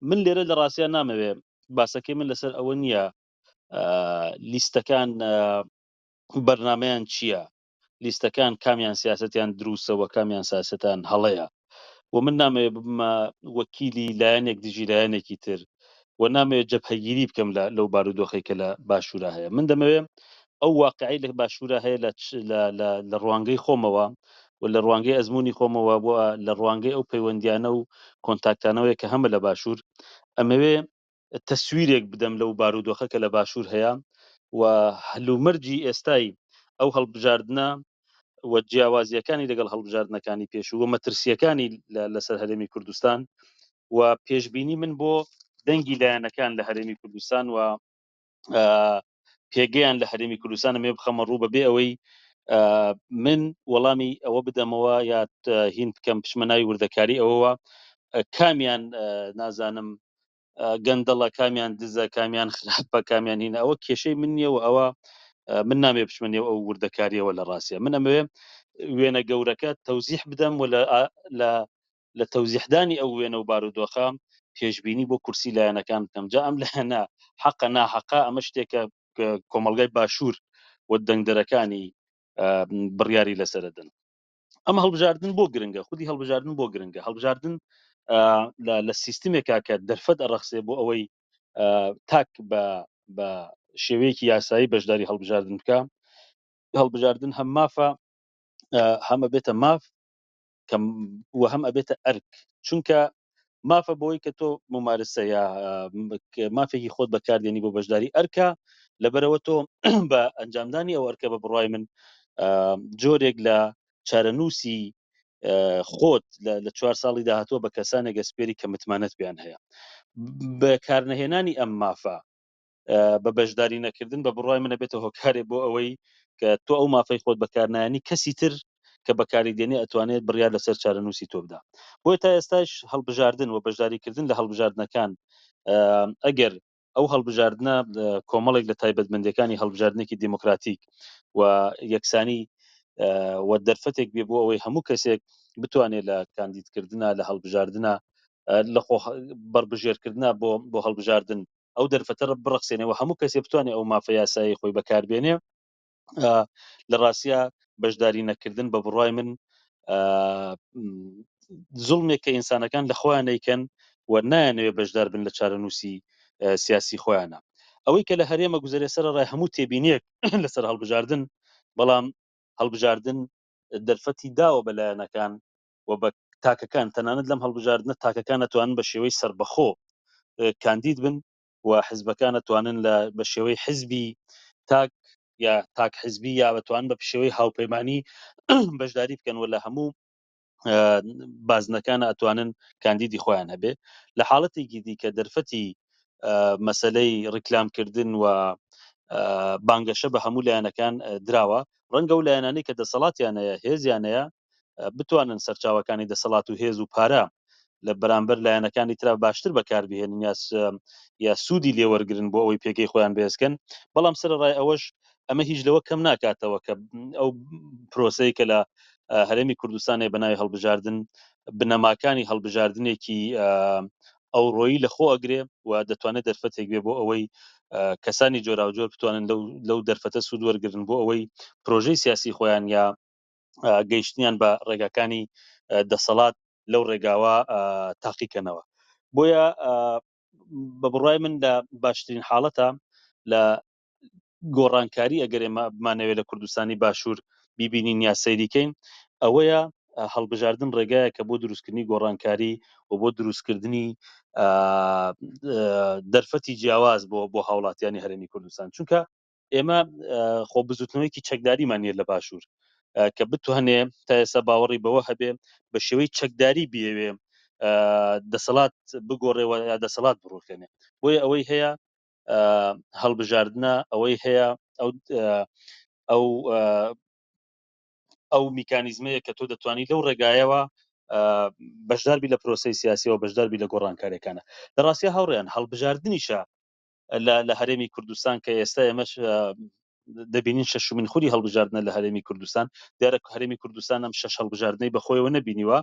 من لێرە لە ڕاستیان نامەوێ باسەکەی من لەسەر ئەوە نییە لیستەکان بەرنمەیان چییە لیستەکان کامیان سیاستیان دروستەوە کامیان ساستان هەڵەیە و من نامەوێ بمە وەکیلی لایەنێک دژی لایەنێکی تر و نامەوێت جەپهگیری بکەم لە لەو بارودۆخی کە لە باشوورە هەیە من دەمەوێ ئەو واقعی لە باشوورا هەیە لە ڕوانگەی خۆمەوە و لە ڕوانگەی ئەزمموی خۆمەوە بۆ لە ڕوانگەی ئەو پەیوەندیانە و کۆنتاکتانەوەی کە هەمە لە باشوور ئەمەوێ تەسویرێک بدەم لەو بارودۆخە کە لە باشوور هەیە و هەلومەرجی ئێستای ئەو هەڵبژاردنە و جیاوازیەکانی لەگەڵ هەڵبژاردنەکانی پێشوو و مەترسیەکانی لەسەر هەرێمی کوردستان و پێشببینی من بۆ دەنگی لایەنەکان لە هەرێمی کوردستان و پێگەیان لە هەرێمی کوردستانە مێ بخەمە ڕوو بەبێ ئەوەی من وەڵامی ئەوە بدەمەوە یا هین بکەم پشمە ناوی وردەکاری ئەوەوە کامیان نازانم گەندەڵە کامیان دزە کامیان خراپە کامیان هینە ئەوە کێشەی من نیە و ئەوە من نامێ بچمنێ ئەو وردەکاریەوە لە ڕاستە من ئەمەوێ وێنە گەورەکە تەوزیح بدەم و لە لە تەوزیحدانی ئەو وێنە و بارودۆخە پێشبینی بۆ کورسی لایەنەکان بکەم جا ئەم لایەنە حەقە ناحەقە ئەمە شتێکە کۆمەڵگای باشوور و دەنگدەرەکانی بڕیاری لەسەردن ئەم هەڵبژاردن بۆ گرنگە خودی هەڵبژاردن بۆ گرنگە هەڵبژاردن لە سیستمێکا کە دەرفەت ئەڕەخسێ بۆ ئەوەی تاک بە بە شێوەیەکی یاسایی بەشداری هەڵبژاردن بکە هەڵبژاردن هەم مافە هەمە بێتە ماف کە وە هەم ئەبێتە ئەرک چونکە مافە بۆی کە تۆ ممارسە یا مافێکی خۆت بەکاردێنی بۆ بەشداری ئەرکە لەبەرەوە تۆ بە ئەنجامدانی ئەو ئەرکە بە بڕای من جۆرێک لە چارەنووسی خۆت لە چوار ساڵی داهاتوە بە کەسانێک گەسپێری کە متمانەت پێیان هەیە بە کارنەهێنانی ئەم مافە بە بەشداری نەکردن بە بڕوای منە بێتە هۆکارێ بۆ ئەوەی کە تۆ ئەو مافەی خۆت بەکارنایانی کەسی تر کە بەکاری دێنێ ئەتوانێت بڕیار لەسەر چارەنووسی تۆ بدا بۆیە تا ئێستاش هەڵبژاردن و بەشداریکردن لە هەڵبژاردنەکان ئەگەر ئەو هەڵبژاردنە کۆمەڵێک لە تایبەتمەندەکانی هەڵبژاردنێکی دیموکراتیک و یەکسانی و دەرفەتێک بێ بۆ ئەوەی هەموو کەسێک بتوانێت لە کاندیدکردە لە هەڵبژاردنە لە خۆ بەربژێرکردە بۆ بۆ هەڵبژاردن ئەو دەرفەتە بڕەخسێنێ و هەموو کەسێ بتوانێ ئەو مافە یاسایەی خۆی بەکار بێنێ لە ڕاستیا بەشداری نەکردن بە بڕای من زڵمێک کە ئینسانەکان لە خۆیان نیکەن و نایانەوێ بەشدار بن لە چارەنووسی سیاسی خۆیانە ئەوەی کە لە هەرێمە گوزارێ سەر ڕای هەموو تێبینیەک لەسەر هەڵبژاردن بەڵام هەڵبژاردن دەرفەتی داوە بەلایەنەکان و بە تاکەکان تەنانەت لەم هەڵبژاردنە تاکەکان ئەتوانن بە شێوەی سەربەخۆ کاندید بن و حزبەکان ئەتوانن لە بە شێوەی حزبی تاک یا تاک حزبی یا بەتوان بە پشێوەی هاوپەیمانانی بەشداری بکەن و لە هەموو بازنەکان ئەتوانن کاندیدی خۆیان هەبێ لە حاڵەتێکی دیکە دەرفەتی مەسلەی ڕیکلامکردن و بانگەشە بە هەموو لایەنەکان دراوە ڕەنگە و لایەنانی کە دەسەڵاتیانەیە هێزیانەیە بتوانن سەرچاوەکانی دەسەڵات و هێز و پارە لە بەرامبەر لایەنەکانی ترا باشتر بەکاربهێنن یا یا سوودی لێوەرگن بۆ ئەوەی پێگەی خۆیان بێزکەن بەڵام سەرڕای ئەوەش ئەمە هیچ لەوە کەم ناکاتەوە کە ئەو پرۆسەی کە لە هەرێمی کوردستانی بەناوی هەڵبژاردن بنەماکانی هەڵبژاردنێکی ئەو ڕۆیی لە خۆ ئەگرێ و دەتوانێت دەرفەتێک بێ بۆ ئەوەی کەسانی جۆراوجۆر بتوانن لەو دەرفەتە سوود وەرگن بۆ ئەوەی پرۆژەی سیاسی خۆیان یا گەیشتنیان بە ڕێگاکانی دەسەڵات لەو ڕێگاوە تاقیکەنەوە بۆیە بە بڕای من لە باشترین حاڵەتە لە گۆڕانکاری ئەگەر ئێمە بمانەوێت لە کوردستانی باشوور بیبینین یا سەیریکەین ئەوەیە هەڵبژاردن ڕێگایە کە بۆ دروستکردنی گۆڕانکاری و بۆ دروستکردنی دەرفەتی جیاواز بۆ بۆ هاوڵاتیانی هەرێمی کوردستان چونکە ئێمە خۆ بزوتنەوەیکی چەکداریمان نیە لە باشوور کە بتوانێ تا ئێستا باوەڕی بەوە هەبێ بە شێوەی چەکداری بێوێ دەسەڵات بگۆڕێەوە یا دەسەڵات بڕوخێنێ بۆیە ئەوەی هەیە هەڵبژاردنە ئەوەی هەیە ئەو ئەو ئەو میکانیزمەیە کە تۆ دەتوانانی لەو ڕێگایەوە بەشداربی لە پرۆسی سیاسیەوە بەشداربی لە گۆڕانکارەکانە دەڕاستە هاوڕێیان هەڵبژاردننیشە لە هەرێمی کوردستان کە ئێستا ئێمەش دەبینین شەشمین خوری هەڵبژاردنە لە هەرێمی کوردستان دیارە هەرێمی کوردستان ئەم شەش هەڵبژاردنەی بەخۆیەوە نبینیوە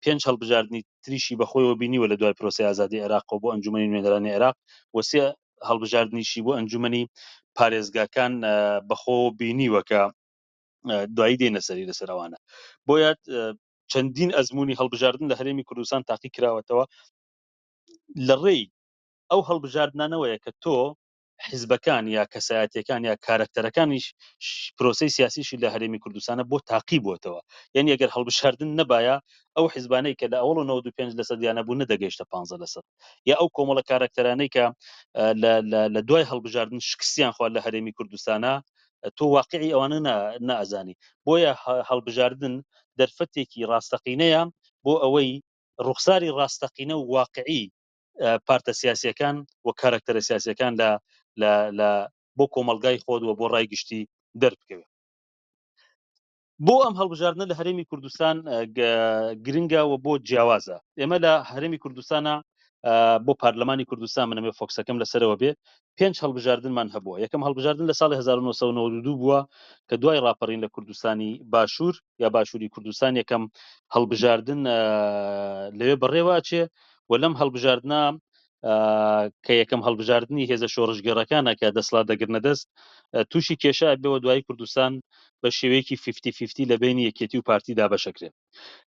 پێنج هەڵبژاردننی تریشی بەخۆیەوە بینیوە لە دوای پرۆسی ئازادی عێراق بۆ ئەنجومی نوێنەرانی عێراق وسێ هەڵبژاردنیشی بۆ ئەنجومی پارێزگاکان بەخۆ بینیوەکە دوایی دێنە سەری لەسەرەوانە بۆیە چەندین ئەزمموی هەڵبژاردن لە هەرێمی کوردستان تاقی کراوەتەوە لە ڕێی ئەو هەڵبژاردنانەوەیە کە تۆ، حیزبەکان یا کەسایەتیەکان یا کارەکتەرەکانیش پرۆسەی سیاسیشی لە هەرێمی کوردستانە بۆ تاقی بۆتەوە یانی ئەگەر هەڵبژاردن نەبایە ئەو حیزبانەی کە لە ئەوڵ و نەوەد و پێنج لەسەد یانە بوو نەدەگەیشتە پانزە لەسەد یا ئەو کۆمەڵە کارەکتەرانەی کە لە دوای هەڵبژاردن شکستیان خوا لە هەرێمی کوردستانە تۆ واقعی ئەوانە نازانی بۆیە هەڵبژاردن دەرفەتێکی ڕاستەقینەیە بۆ ئەوەی ڕوخساری ڕاستەقینە و واقعی پارتە سیاسیەکان و کارکتەرە سیاسیەکان لە لە بۆ کۆمەلگای خۆت و بۆ ڕای گشتی دەربکەوێت بۆ ئەم هەڵبژاردنە لە هەرێمی کوردستان گرنگە و بۆ جیاوازە ئێمە لە هەرێمی کوردستانە بۆ پارلەمانی کوردستان منەمێ فۆکسەکەم لەسەرەوە بێ پێنج هەڵبژاردنمان هەبووە، یەکەم هەڵبژاردن لە ساڵی هەزار و نۆ سەد و نەوەد و دوو بووە کە دوای ڕاپەڕین لە کوردستانی باشوور یا باشووری کوردستان یەکەم هەڵبژاردن لەوێ بەڕێوە ئەچێ و لەم هەڵبژاردنە کە یەکەم هەڵبژاردننی هێزە شۆڕژگەڕەکانە کە دەسڵات دەگرنە دەست تووشی کێشە بەوە دوای کوردستان بە شێوەیەکی 50 لە بینی یەکێتی و پارتی دابەشەکرێت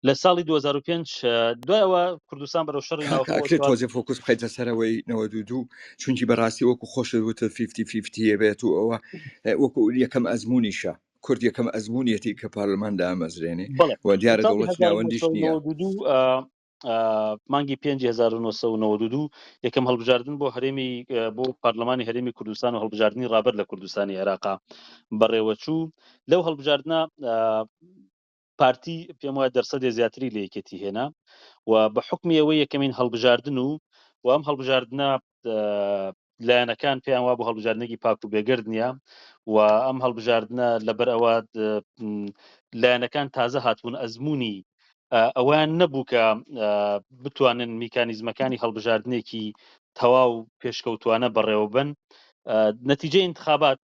لە ساڵی 2005 دوایەوە کوردستان بەرەو شەڕی ناوکرێت تۆزێ فۆکس بخیتە سەرەوەی 92 چونکی بەڕاستی وەکو خۆشت وتە 50 بێت و ئەوە وەکو یەکەم ئەزمونیشە کورد یەکەم ئەزمونیەتی کە پارلمان دامەزرێنێ و دیارە دەوڵەت ناوەندیش نییە مانگی 1992 یەکەم هەڵبژاردن بۆ هەرێمی بۆ پارلمانی هەرێمی کوردستان و هەڵبژاردننی ڕابەر لە کوردستانی عێراقا بەڕێوەچوو لەو هەڵبژاردنە پارتی پێم وایە دەرسەدێ زیاتری لە یەکێتی هێنا و بە حکمی ئەوەی یەکەمین هەڵبژاردن و و ئەم هەڵبژاردنە لایەنەکان پێیان وا بۆ هەڵبژاردنێکی پاک و بێگرد نییە و ئەم هەڵبژاردنە لەبەر ئەوە لایەنەکان تازە هاتبوون ئەزمموی ئەویان نەبوو کە بتوانن میکانیزمەکانی هەڵبژاردنێکی تەواو پێشکەوتوانە بەڕێوەبن نەتیجە انتخابات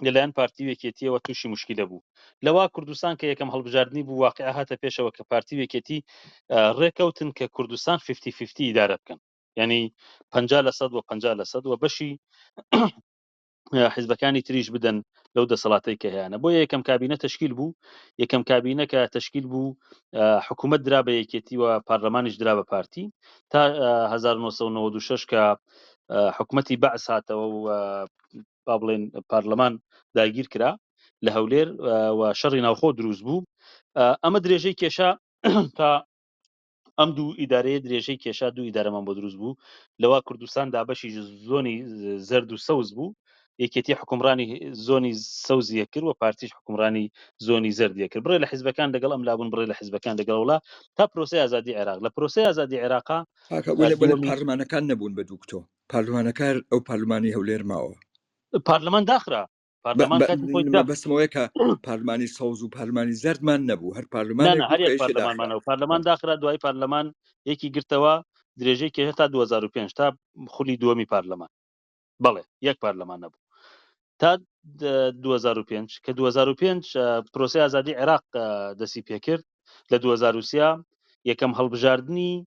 لەلایەن پارتی و یەکێتییەوە تووشی موشکیلە بوو. لەوا کوردستان کە یەکەم هەڵبژاردنی بوو واقیع هاتە پێشەوە کە پارتی و یەکێتی ڕێکەوتن کە کوردستان فیفتی فیفتی ئیدارە بکەن. یانی پەنجا لە سەد و پەنجا لە سەد و بەشی حیزبەکانی تریش بدەن لەو دەسەڵاتەی کە هەیەە بۆ یەکەم کابینە تشکیل بوو یەکەم کابینە کە تشکیل بوو حکوومەت درا بە یەکێتی و پارلەمانیش درا بە پارتی تا 1996 کە حکوومەتی بەعس هاتەوە و با بڵێن پارلەمان داگیر کرا لە هەولێر و شەڕی ناوخۆ دروست بوو ئەمە درێژەی کێشا تا ئەم دوو ئیدارەیە درێژەی کێشا دوو ئیدارەمان بۆ دروست بوو لەوە کوردستان دابەشی زۆنی زرد و سەوز بوو یەکێتی حکومڕانی زۆنی سەوزیە کرد و پارتیش حکومڕانی زۆنی زردیە کرد بڕێ لە حزبەکان لەگەڵ ئەم لابوون بڕێ لە حزبەکان لەگەڵوڵا تا پرۆسی ئازادی عێراق لە پرۆسی ئازادی عێراقا پارلمانەکان نەبوون بە دوکتۆ پارلمانە کار ئەو پارلمانی هەولێر ماوە پارلمان داخرا پارلمان کاتی خۆی دا. بەسمەوەی کە پارلمانی سەوز و پارلمانی زەردمان نەبوو هەر پارلمان نه، نه، هەر یەک پارلمانمانە و پارلمان داخرا دوای پارلمان یەکی گرتەوە درێژەی کێشە تا 2005 تا خولی دووەمی پارلمان بەڵێ یەک پارلمان نەبوو تا د- 2005 کە 2005 اه، پرۆسی ئازادی عێراق اه، دەستی پێکرد لە 2023 یەکەم هەڵبژاردنی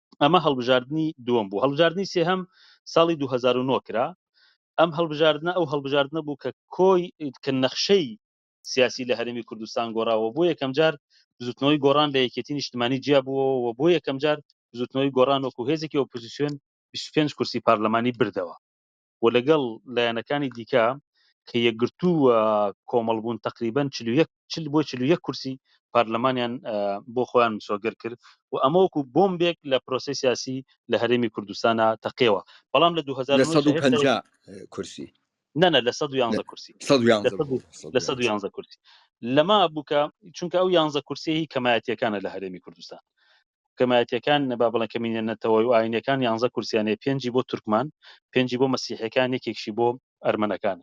ئەمە هەڵبژاردنی دووەم بوو هەڵبژاردننی سێهەم ساڵی 2009 کرا ئەم هەڵبژاردنە ئەو هەڵبژاردنە بوو کە کۆی کە نەخشەی سیاسی لە هەرمی کوردستان گۆڕاوە بۆ یەکەم جار بزوتنەوەی گۆڕان لە یەکێتی نیشتمانی جیا بووەوە بۆ یەکەم جار بزوتنەوەی گۆڕان وەکو هێزێکی ئۆپۆزیسیۆن 25 کورسی پارلەمانی بردەوە و لەگەڵ لایەنەکانی دیکە کە یەکگرتوو و کۆمەڵ بوون تەقریبەن چل و یەک چل بۆ چل و یەک کورسی پارلەمانیان بۆ خۆیان مسۆگەر کرد و ئەمە وەکو بۆمبێک لە پرۆسەی سیاسی لە هەرێمی کوردستانا تەقێوە بەڵام لە دوو هەزار و نۆ لە سەد و جا هێشتا پەنجا کورسی نە نە لە سەد و لە یانزە کورسی سەد و لە یانزە سەد و بوو سەد لە و سەد و یانزە یانزە کورسی لەمە بوو کە چونکە ئەو یانزە کورسیی کەمایەتییەکانە لە هەرێمی کوردستان کەمایەتیەکان با بڵێن کەمینە نەتەوەی و ئاینیەکان یانزە کورسیان هەیە پێنجی بۆ تورکمان پێنجی بۆ مەسیحەکان یەکێکشی بۆ ئەرمەنەکان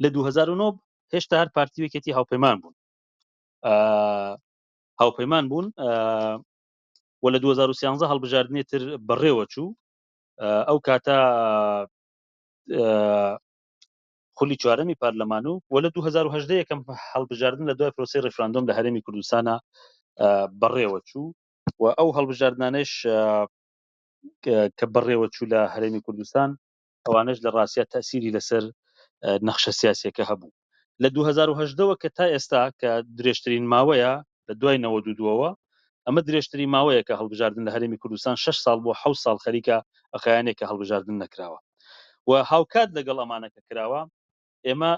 لە دوو هەزار و نۆ هێشتا هەر پارتی وەکێتی هاوپەیمان بوون هاوپەیمان بوون و لە 2013 هەڵبژاردنێ تر بەڕێوە چوو ئەو کاتە خولی چوارەمی پارلەمان و وە لە دوو هەزار و هەژدە یەکەم هەڵبژاردن لە دوای پرۆسەی ڕیفراندۆم لە هەرێمی کوردستانا بەڕێوە چوو و ئەو هەڵبژاردنانەش کە بەڕێوە چوو لە هەرێمی کوردستان ئەوانەش لە ڕاستیا تەسیری لەسەر نەخشە سیاسیەکە هەبوو لە دوو هەزار و هەژدە وە کە تا ئێستا کە درێژترین ماوەیە لە دوای نەوەد و دووەوە، ئەمە درێژترین ماوەیە کە هەڵبژاردن لە هەرێمی کوردستان شەش ساڵ بۆ حەوت ساڵ خەریکە ئەخایەنێک کە هەڵبژاردن نەکراوە و هاوکات لەگەڵ ئەمانە کە کراوە ئێمە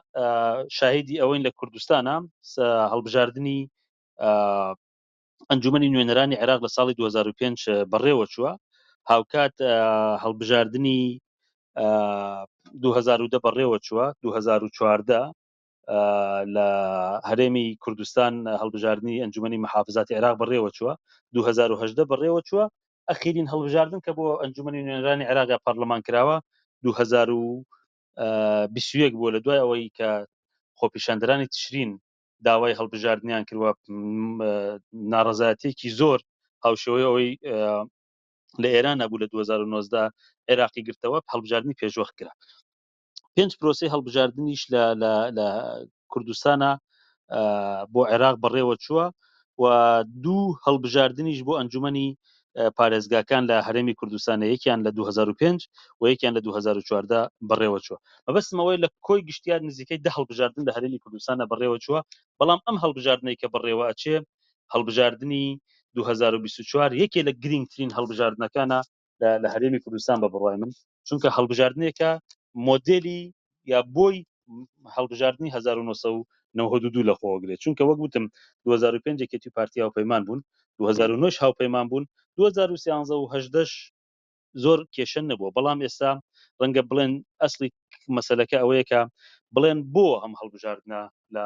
شاهیدی ئەوەین لە کوردستانە هەڵبژاردنی ئەنجومی نوێنەرانی عێراق لە ساڵی 2005 بەڕێوە چووە هاوکات هەڵبژاردنی 2010 بەڕێوە چووە 2014 لە هەرێمی کوردستان هەڵبژاردننی ئەنجومی محافزاتی عێراق بەڕێوە چووە 2010 بەڕێوە چووە ئەخیرین هەڵبژاردن کە بۆ ئەنجومی نوێنرانی عێراق یا پەرلەمان کراوە 2021 بووە لە دوای ئەوەی کە خۆپیشاندرانی تشرین داوای هەڵبژاردنیان کردوە ناڕزایەتێکی زۆر هاوشەوەی ئەوەی لە ئێران نەبوو لە 2009دا عێراقی گرتەوە هەڵبژاردننی پێشوەخت کرا پێنج پرۆسی هەڵبژاردنیش لە کوردستانە بۆ عێراق بەڕێوە چووە و دوو هەڵبژاردنیش بۆ ئەنجومی پارێزگاکان لە هەرێمی کوردستانە یەکیان لە 2005 و یەکیان لە 2014 بەڕێوە چووە مەبستمەوەی لە کۆی گشتیار نزیکەی دە هەڵبژاردن لە هەرێمی کوردستانە بەڕێوە چووە بەڵام ئەم هەڵبژاردنەی کە بەڕێوە ئەچێ هەڵبژاردننی 2024 یەکێ لە گرنگترین هەڵبژاردنەکانە لە هەرێمی کوردستان بە بڕوای من چونکە هەڵبژاردنێکە مۆدلی یا بۆی هەڵبژاردننی 1992 لە خۆگرێت چونکە وەک وتم 2005 یەکێتی پارتی هاوپەیمان بوون 2009 هاوپەیمان بوون 2013 زۆر کێشە نەبووە بەڵام ئێستا ڕەنگە بڵێن ئەسلی مەسلەکە ئەوەیەکە بڵێن بۆ ئەم هەڵبژاردنە لە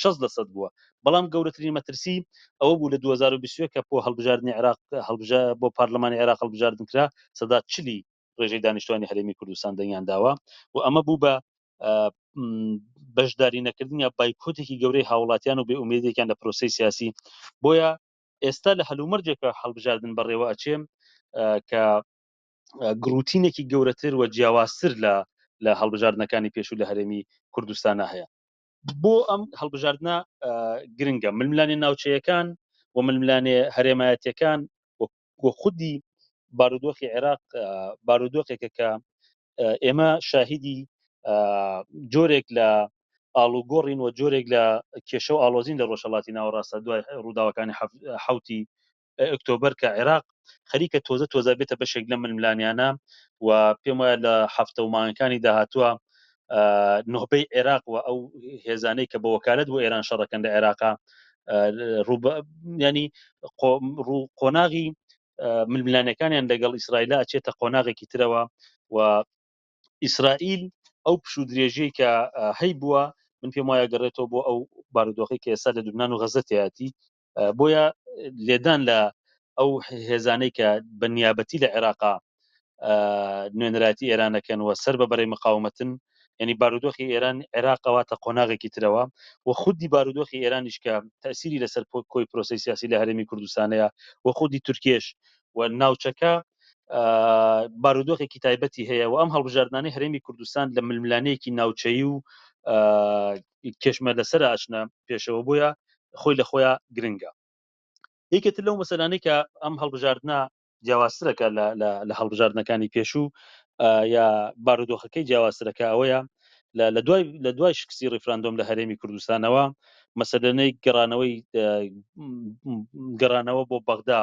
شەست لە سەد بووە، بەڵام گەورەترین مەترسی ئەوە بوو لە دوو هەزار و بیست و یەک کە بۆ هەڵبژاردنی عێراق هەڵبژا بۆ پارلمانی عێراق هەڵبژاردن کرا سەدا چلی ڕێژەی دانیشتوانی هەرێمی کوردستان دەنگیان داوە و ئەمە بوو بە بەشداری نەکردن یا بایکۆتێکی گەورەی هاوڵاتیان و بێ ئومێدێکیان لە پرۆسی سیاسی بۆیە ئێستا لە هەلومەرجێکە هەڵبژاردن بەڕێوە ئەچێ کە گروتینێکی گەورەتر و جیاوازتر لە لە هەڵبژاردنەکانی پێشوو لە هەرێمی کوردستانە هەیە بۆ ئەم هەڵبژاردنە گرنگە ململانێ ناوچەیەکان و ململانێ هەرێمایەتەکان وە خودی بارودۆخی عێراق بارودۆخێکە کە ئێمە شاهیدی جۆرێک لە ئاڵوگۆڕین و جۆرێک لە کێشە و ئالۆزین لە ڕۆژهڵاتی ناوەڕاستە دوای ڕووداوەکانی حوتی ئۆکتۆبەر کە عێراق خەریکە تۆزە تۆزە بێتە بەشێک لە ململانیانە و پێم وایە لە هەفتە و مانگەکانی داهاتووە نهبەی عێراق و ئەو هێزانەی کە بە وەکالت بۆ ئێران شەڕەکەن لە عێراقا ینی قۆناغی ململانەکانیان لەگەڵ ئیسرائیلا ئەچێتە قۆناغێکی ترەوە و ئیسرائیل ئەو پش و درێژەی کە هەی بووە من پێم وایە گەڕێتەوە بۆ ئەو بارودۆخی کە ئێستا لە لوبناان و غەزەتیاتی بۆیە لێدان لە ئەو هێزانەی کە بە نیابەتی لە عێراقا نوێنەرایەتی ئێرانەکەنەوە سەر بە بەرەی مقاومەتن ینی بارودۆخی ئێران عێراقەوە تە قۆناغێکی ترەوە و خودی بارودۆخی ئێرانیش کە تەسیری لەسەر کۆی پرۆسی سیاسی لە هەرێمی کوردستانەیە و خودی تورکێش و ناوچەکە بارودۆخێکی تایبەتی هەیە و ئەم هەڵبژاردنانی هەرێمی کوردستان لە ململانەیەکی ناوچەی و کێشمە لەسەرە ئەچنە پێشەوە بۆیە خۆی لە خۆیا گرنگە یەکێت لەو مەسەلانەی کە ئەم هەڵبژاردنە جیاوازترەکە لە هەڵبژاردنەکانی پێشوو یا بارودۆخەکەی جیاوازترەکە ئەوەیە لە دوای لە دوای شکستی ڕیفراندۆم لە هەرێمی کوردستانەوە مەسەلەنەی گەڕانەوەی گەڕانەوە بۆ بەغدا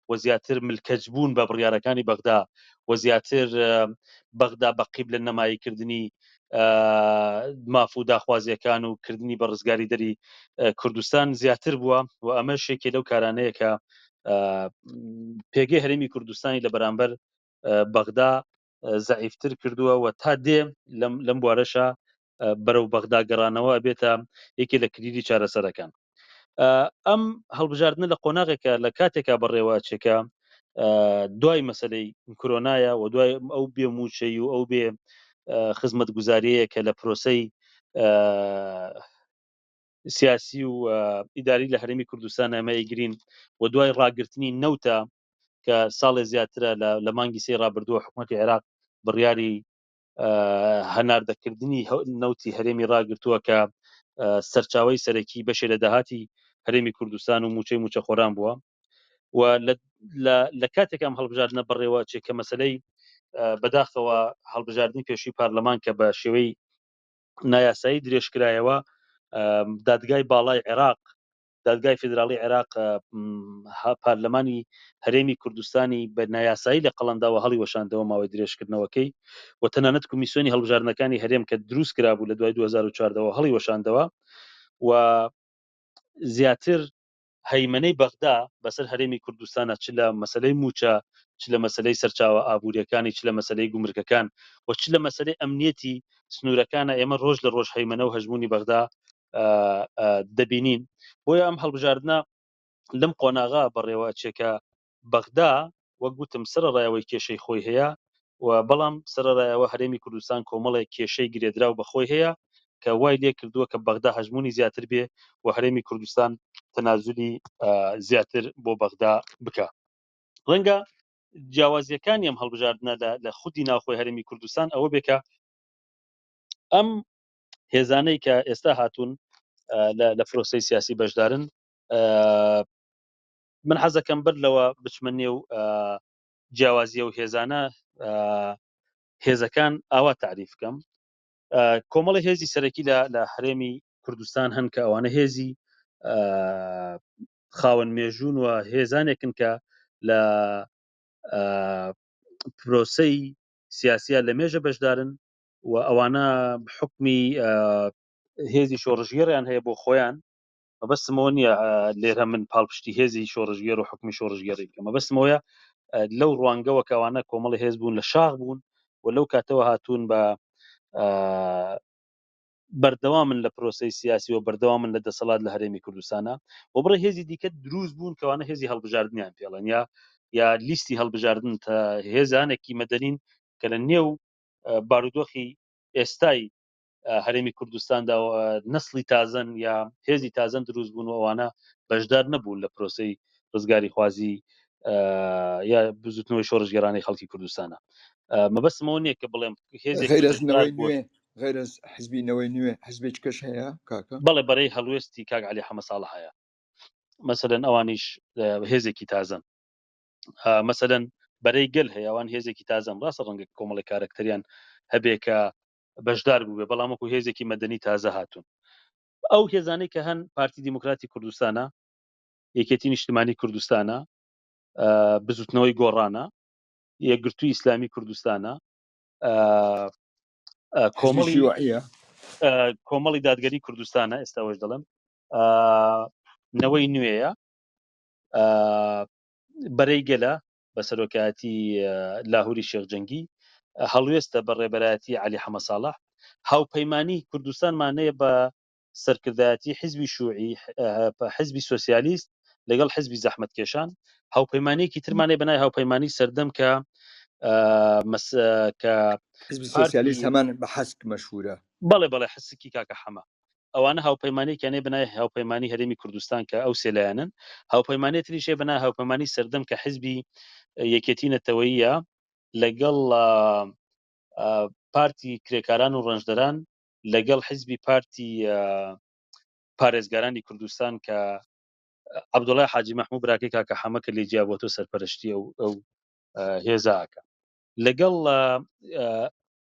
و زیاتر ملکەج بوون بە بڕیارەکانی بەغدا و زیاتر بەغدا بە قیب لە نەماییکردنی ماف و داخوازیەکان و کردنی بە ڕزگاری دەری کوردستان زیاتر بووە و ئەمە شێکێ لەو کارانەیە کە پێگەی هەرمی کوردستانی لە بەرامبەر بەغدا زعیفتر کردووە و تا دێ لەم بوارەشە بەرەو بەغدا گەڕانەوە بێتە یەکێ لە کلیلی چارەسەرەکان ئەم هەڵبژاردنە لە قۆناغێکە لە کاتێکا بەڕێوە چێکە دوای مەسلەی کرۆنایە و دوای ئەو بێ موچەی و ئەو بێ خزمەت گوزاریەیە کە لە پرۆسی سیاسی و ئیداری لە هەرمی کوردستان ئەمەی گرین و دوای ڕاگررتنی نەوتە کە ساڵێ زیاترە لە مانگی سی ڕابردووە حکوومەتی عێراق بڕیاری هەناردەکردنی نەوتی هەرێمی ڕاگرتووە کە سەرچاوی سەرەکی بەشێ لە داهاتی هەرێمی کوردستان و موچەی موچەخۆران بووە و لە کاتێکم هەڵبژاردنە بڕێوە چێ کە مەسلەی بەداخەوە هەڵبژاردننی پێشوی پارلەمان کە بە شێوەی نایاسایی درێژکرایەوە دادگای باڵای عێراق دادگای فیدراڵی عێراق پارلەمانی هەرێمی کوردستانی بە نایاسایی لە قەڵەمداوە هەڵی وەشاندەوە ماوەی درێژکردنەوەکەی و تەنانەت کمیسیۆنی هەڵبژاردنەکانی هەرێم کە دروست کرابوو لە دوای 2014ەوە هەڵی وەشاندەوە و زیاتر هەیمەنەی بەغدا بەسەر هەرێمی کوردستانە چ لە مەسلەی موچە چ لە مەسلەی سەرچاوە ئابوووریەکانی چ لە مەسلەی گومرکەکان و چ لە مەسلەی ئەمنیەتی سنوورەکانە ئێمە ڕۆژ لە ڕۆژ هەیمەنە و هەژمونی بەغدا دەبینین بۆیە ئەم هەڵبژاردنە لەم قۆناغا بەڕێوە چێکە بەغدا وەک گوتم سەرڕایەوەی کێشەی خۆی هەیە و بەڵام سەرڕایەوە هەرێمی کوردستان کۆمەڵێک کێشەی گرێدراو بەخۆی هەیە کە وای لێ کردووە کە بەغدا هەژمونی زیاتر بێ و هەرێمی کوردستان تەنازولی زیاتر بۆ بەغدا بکە ڕەنگە جیاوازیەکانی ئەم هەڵبژاردنە لە خودی ناوخۆی هەرمی کوردستان ئەوە بێکە ئەم هێزانەی کە ئێستا هاتوون لە فرۆسەی سیاسی بەشدارن من حەزەکەم بەر لەوە بچمە نێو جیاوازیە و هێزانە هێزەکان ئاوا تعریف بکەم کۆمەڵی هێزی سەرەکی لە هەرێمی کوردستان هەن کە ئەوانە هێزی خاوەن مێژوون و هێزانێکن کە لە پرۆسەی سیاسە لە مێژە بەشدارن و ئەوانە حکمی هێزی شۆڕژگێڕیان هەیە بۆ خۆیان مەبەستمەوە نییە لێرە من پاڵپشتی هێزی شۆڕژگێر و حکمی شۆڕژگێڕی بکە مەبەستمەوەە لەو ڕوانگەوە کەوانە کۆمەڵی هێز بوون لە شاخ بوون و لەو کاتەوە هاتوون بە بەردەوا من لە پرۆسی سیاسی و بەردەوا من لە دەسەڵات لە هەرێمی کوردستانە و بڕێ هێزی دیکە دروست بوون کەوانە هێزی هەڵبژاردنیان پێڵەن یا یا لیستی هەڵبژاردن تا هێزانێکی مەدەنین کە لە نێو بارودۆخی ئێستای هەرێمی کوردستاندا نسلی تازەن یا هێزی تازەن دروست بوون و ئەوانە بەشدار نەبوون لە پرۆسی ڕزگاری خوازی یا بزوتنەوەی شۆڕژگەرانی خەڵکی کوردستانە مەبەستمەوە نییە کە بڵێم غیرز حزبی نەوەی نوێ حزبێک کەش هەیە کاکە بەڵێ بەرەی هەڵوێستی کاک علی حەمە ساڵ هەیە مەسەدەن ئەوانیش هێزێکی تازەن مەسەدەن بەرەی گەل هەیەوان هێزێکی تازەم ڕاستە ڕەنگە کۆمەڵی کارکتەریان هەبێ کە بەشدار بووێ بەڵام وەکو هێزێکی مەدەنی تازە هاتوون ئەو هێزانەی کە هەن پارتی دیموکراتی کوردستانە یەکێتی نیشتمانی کوردستانە بزوتنەوەی گۆڕانە یەکگرتوو ئیسلامی کوردستانە کۆمەڵی کۆمەڵی دادگەری کوردستانە ئێستاەوەش دەڵم نەوەی نوێیە بەرەی گەلە بە سەرۆکایەتی لاهوری شێخجەنگی هەڵوێستە بە ڕێبەرایەتی علی حەمە ساڵح هاوپەیمانی کوردستانمانەیە بە سەرکردایەتی حزبی شوعی حزبی سوسیالیست لەگەڵ حزبی زەحمت کێشان هاوپەیمانێکی ترمانەی بەنای هاوپەیمانی سەردەم کە کە سوسیالیست هەمان بە حەسک مەشهورە بەڵێ بەڵێ حسکی کاکە حەمە ئەوانە هاوپەیمانیەکیان هەیە بەناوی هاوپەیمانی هەرێمی کوردستان کە ئەو سێ لایەنەن هاوپەیمانێ تریش هەیە بەناوی هاوپەیمانی سەردەم کە حزبی یەکێتی نەتەوەییە لەگەڵ پارتی کرێکاران و ڕەنجدەران لەگەڵ حزبی پارتی پارێزگارانی کوردستان کە عبدوڵای حاجی مححموو براکەی کاکە حەمەکە لێ جیا بۆ تۆ سەرپەرشتی ئەو ئەو هێزاکە لەگەڵ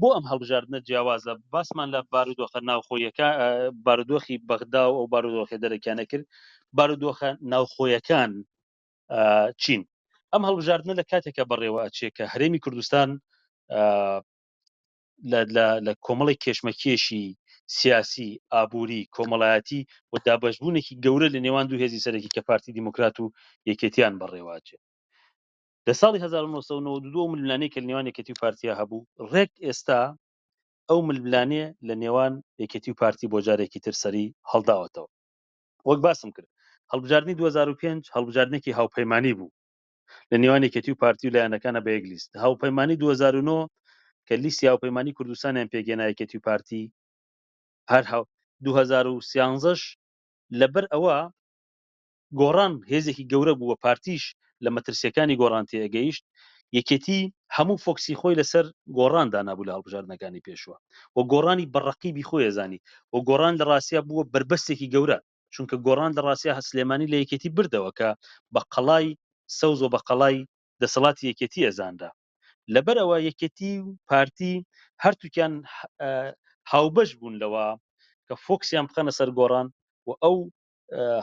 بۆ ئەم هەڵبژاردنە جیاوازە باسمان لە بارودۆخە ناوخۆیەکە بارودۆخی بەغدا و ئەو بارودۆخی دەرەکیانە کرد بارودۆخە ناوخۆیەکان چین ئەم هەڵبژاردنە لە کاتێکە بەڕێوە ئەچێ کە هەرێمی کوردستان لە کۆمەڵی کێشمەکێشی سیاسی ئابووری کۆمەڵایەتی و دابشبوونێکی گەورە لە نێوان دوو هێزی سەرەکی کە پارتی دیموکرات و یەکێتیان بەڕێواچێت لە ساڵی هەزار و نۆ سەد و نەوەد و دوو ئەو ململانێی کە لە نێوان یەکێتی و پارتیا هەبوو ڕێک ئێستا ئەو ململانێ لە نێوان یەکێتی و پارتی بۆ جارێکی تر سەری هەڵداوەتەوە وەک باسم کرد هەڵبژاردنی دوو هەزار و پێنج هەڵبژاردنێکی هاوپەیمانی بوو لە نێوان یەکێتی و پارتی و لایەنەکانە بە یەک لیست هاوپەیمانی دوو هەزار و نۆ کە لیستی هاوپەیمانی کوردستانیان پێکهێنا یەکێتی و پارتی هەر هاو دوو هەزار و سیانزەش لەبەر ئەوە گۆڕان هێزێکی گەورە بوو و پارتیش لە مەترسییەکانی گۆڕان تێگەیشت، یەکێتی هەموو فۆکسی خۆی لەسەر گۆڕان دانابوو لە هەڵبژاردنەکانی پێشووە و گۆڕانی بە ڕەقیبی خۆی ئەزانی و گۆڕان لە ڕاستیا بووە بەربەستێکی گەورە، چونکە گۆڕان لە ڕاستیا سلێمانی لە یەکێتی بردەوە کە بە قەڵای سەوز و بە قەڵای دەسەڵاتی یەکێتی ئەزانرا. لەبەر ئەوە یەکێتی و پارتی هەرتووکیان هاوبەش بوون لەوە کە فۆکسیان بخەنە سەر گۆڕان و ئەو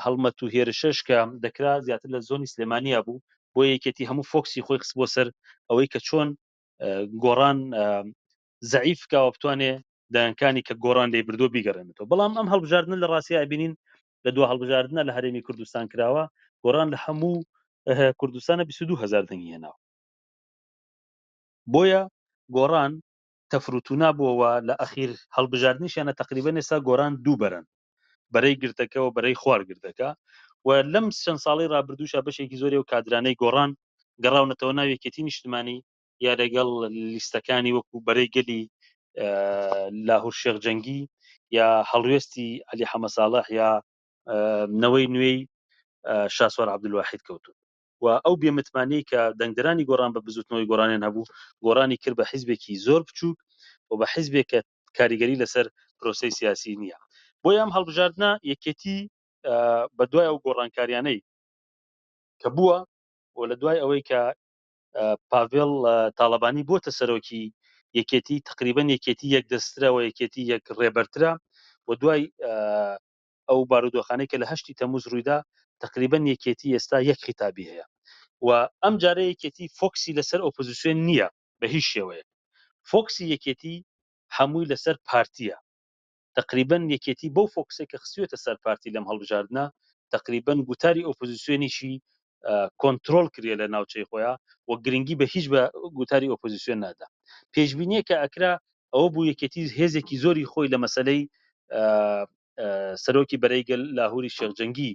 هەڵمەت و هێرشەش کە دەکرا زیاتر لە زۆنی سلێمانیا بوو بۆ یەکێتی هەموو فۆکسی خۆی خست بۆ سەر ئەوەی کە چۆن گۆڕان زعیف کاوە بتوانێ دایانکانی کە گۆڕان لێ بردو بیگەڕێنێتەوە بەڵام ئەم هەڵبژاردنە لە ڕاستیا ئەبینین لە دو هەڵبژاردنە لە هەرێمی کوردستان کراوە گۆڕان لە هەموو کوردستانە 22 هزار دەنگی هێناوە بۆیە گۆڕان تەفروتونا بووەوە لە ئەخیر هەڵبژاردننیشانە تقریبا نێسا گۆران دووبەرن بەرەی گردەکە و بەرەی خوار گردەکە و لەم چەند ساڵەی رابردووشا بەشێکی زۆری ئەو کادرانەی گۆڕان گەڕاونەتەوە ناو یەکێتی نیشتمانی یا لەگەڵ لیستەکانی وەکو بەرەی گەلی لاهور شێخ جەنگی یا هەڵوێستی علی حەمە ساڵح یا نەوەی نوێی شاسوار عبدالواحید کەوتون و ئەو بێ متمانەی کە دەنگدەرانی گۆڕان بە بزوتنەوەی گۆڕانیان هەبوو گۆڕانی کرد بە حیزبێکی زۆر بچوک و بە حیزبێک کە کاریگەری لەسەر پرۆسەی سیاسی نیە بۆیە ئەم هەڵبژاردنە یەکێتی بە دوای ئەو گۆڕانکاریانەی کە بووە و لە دوای ئەوەی کە پاڤێڵ تاڵەبانی بۆتە سەرۆکی یەکێتی تقریبن یەکێتی یەک دەسترەوە یەکێتی یەک ڕێبەرترە و دوای ئەو بارودۆخانەی کە لە هەشتی تەموز روویدا تەقریبەن یەکێتی ئێستا یەک خیتابی هەیە و ئەم جارە یەکێتی فۆکسی لەسەر ئۆپۆزیسیۆن نییە بە هیچ شێوەیەک فۆکسی یەکێتی هەمووی لەسەر پارتییە تەقریبەن یەکێتی بەو فۆکسەی کە خستویەتە سەر پارتی لەم هەڵبژاردنە تەقریبەن گوتاری ئۆپۆزیسیۆنیشی کۆنترۆڵ کریە لە ناوچەی خۆیان و گرنگی بە هیچ بە گوتاری ئۆپۆزیسیۆن نادا پێشبینیە کە ئەکرا ئەوە بوو یەکێتی هێزێکی زۆری خۆی لە مەسلەی سەرۆکی بەرەیگەل لاهوری شێخجەنگی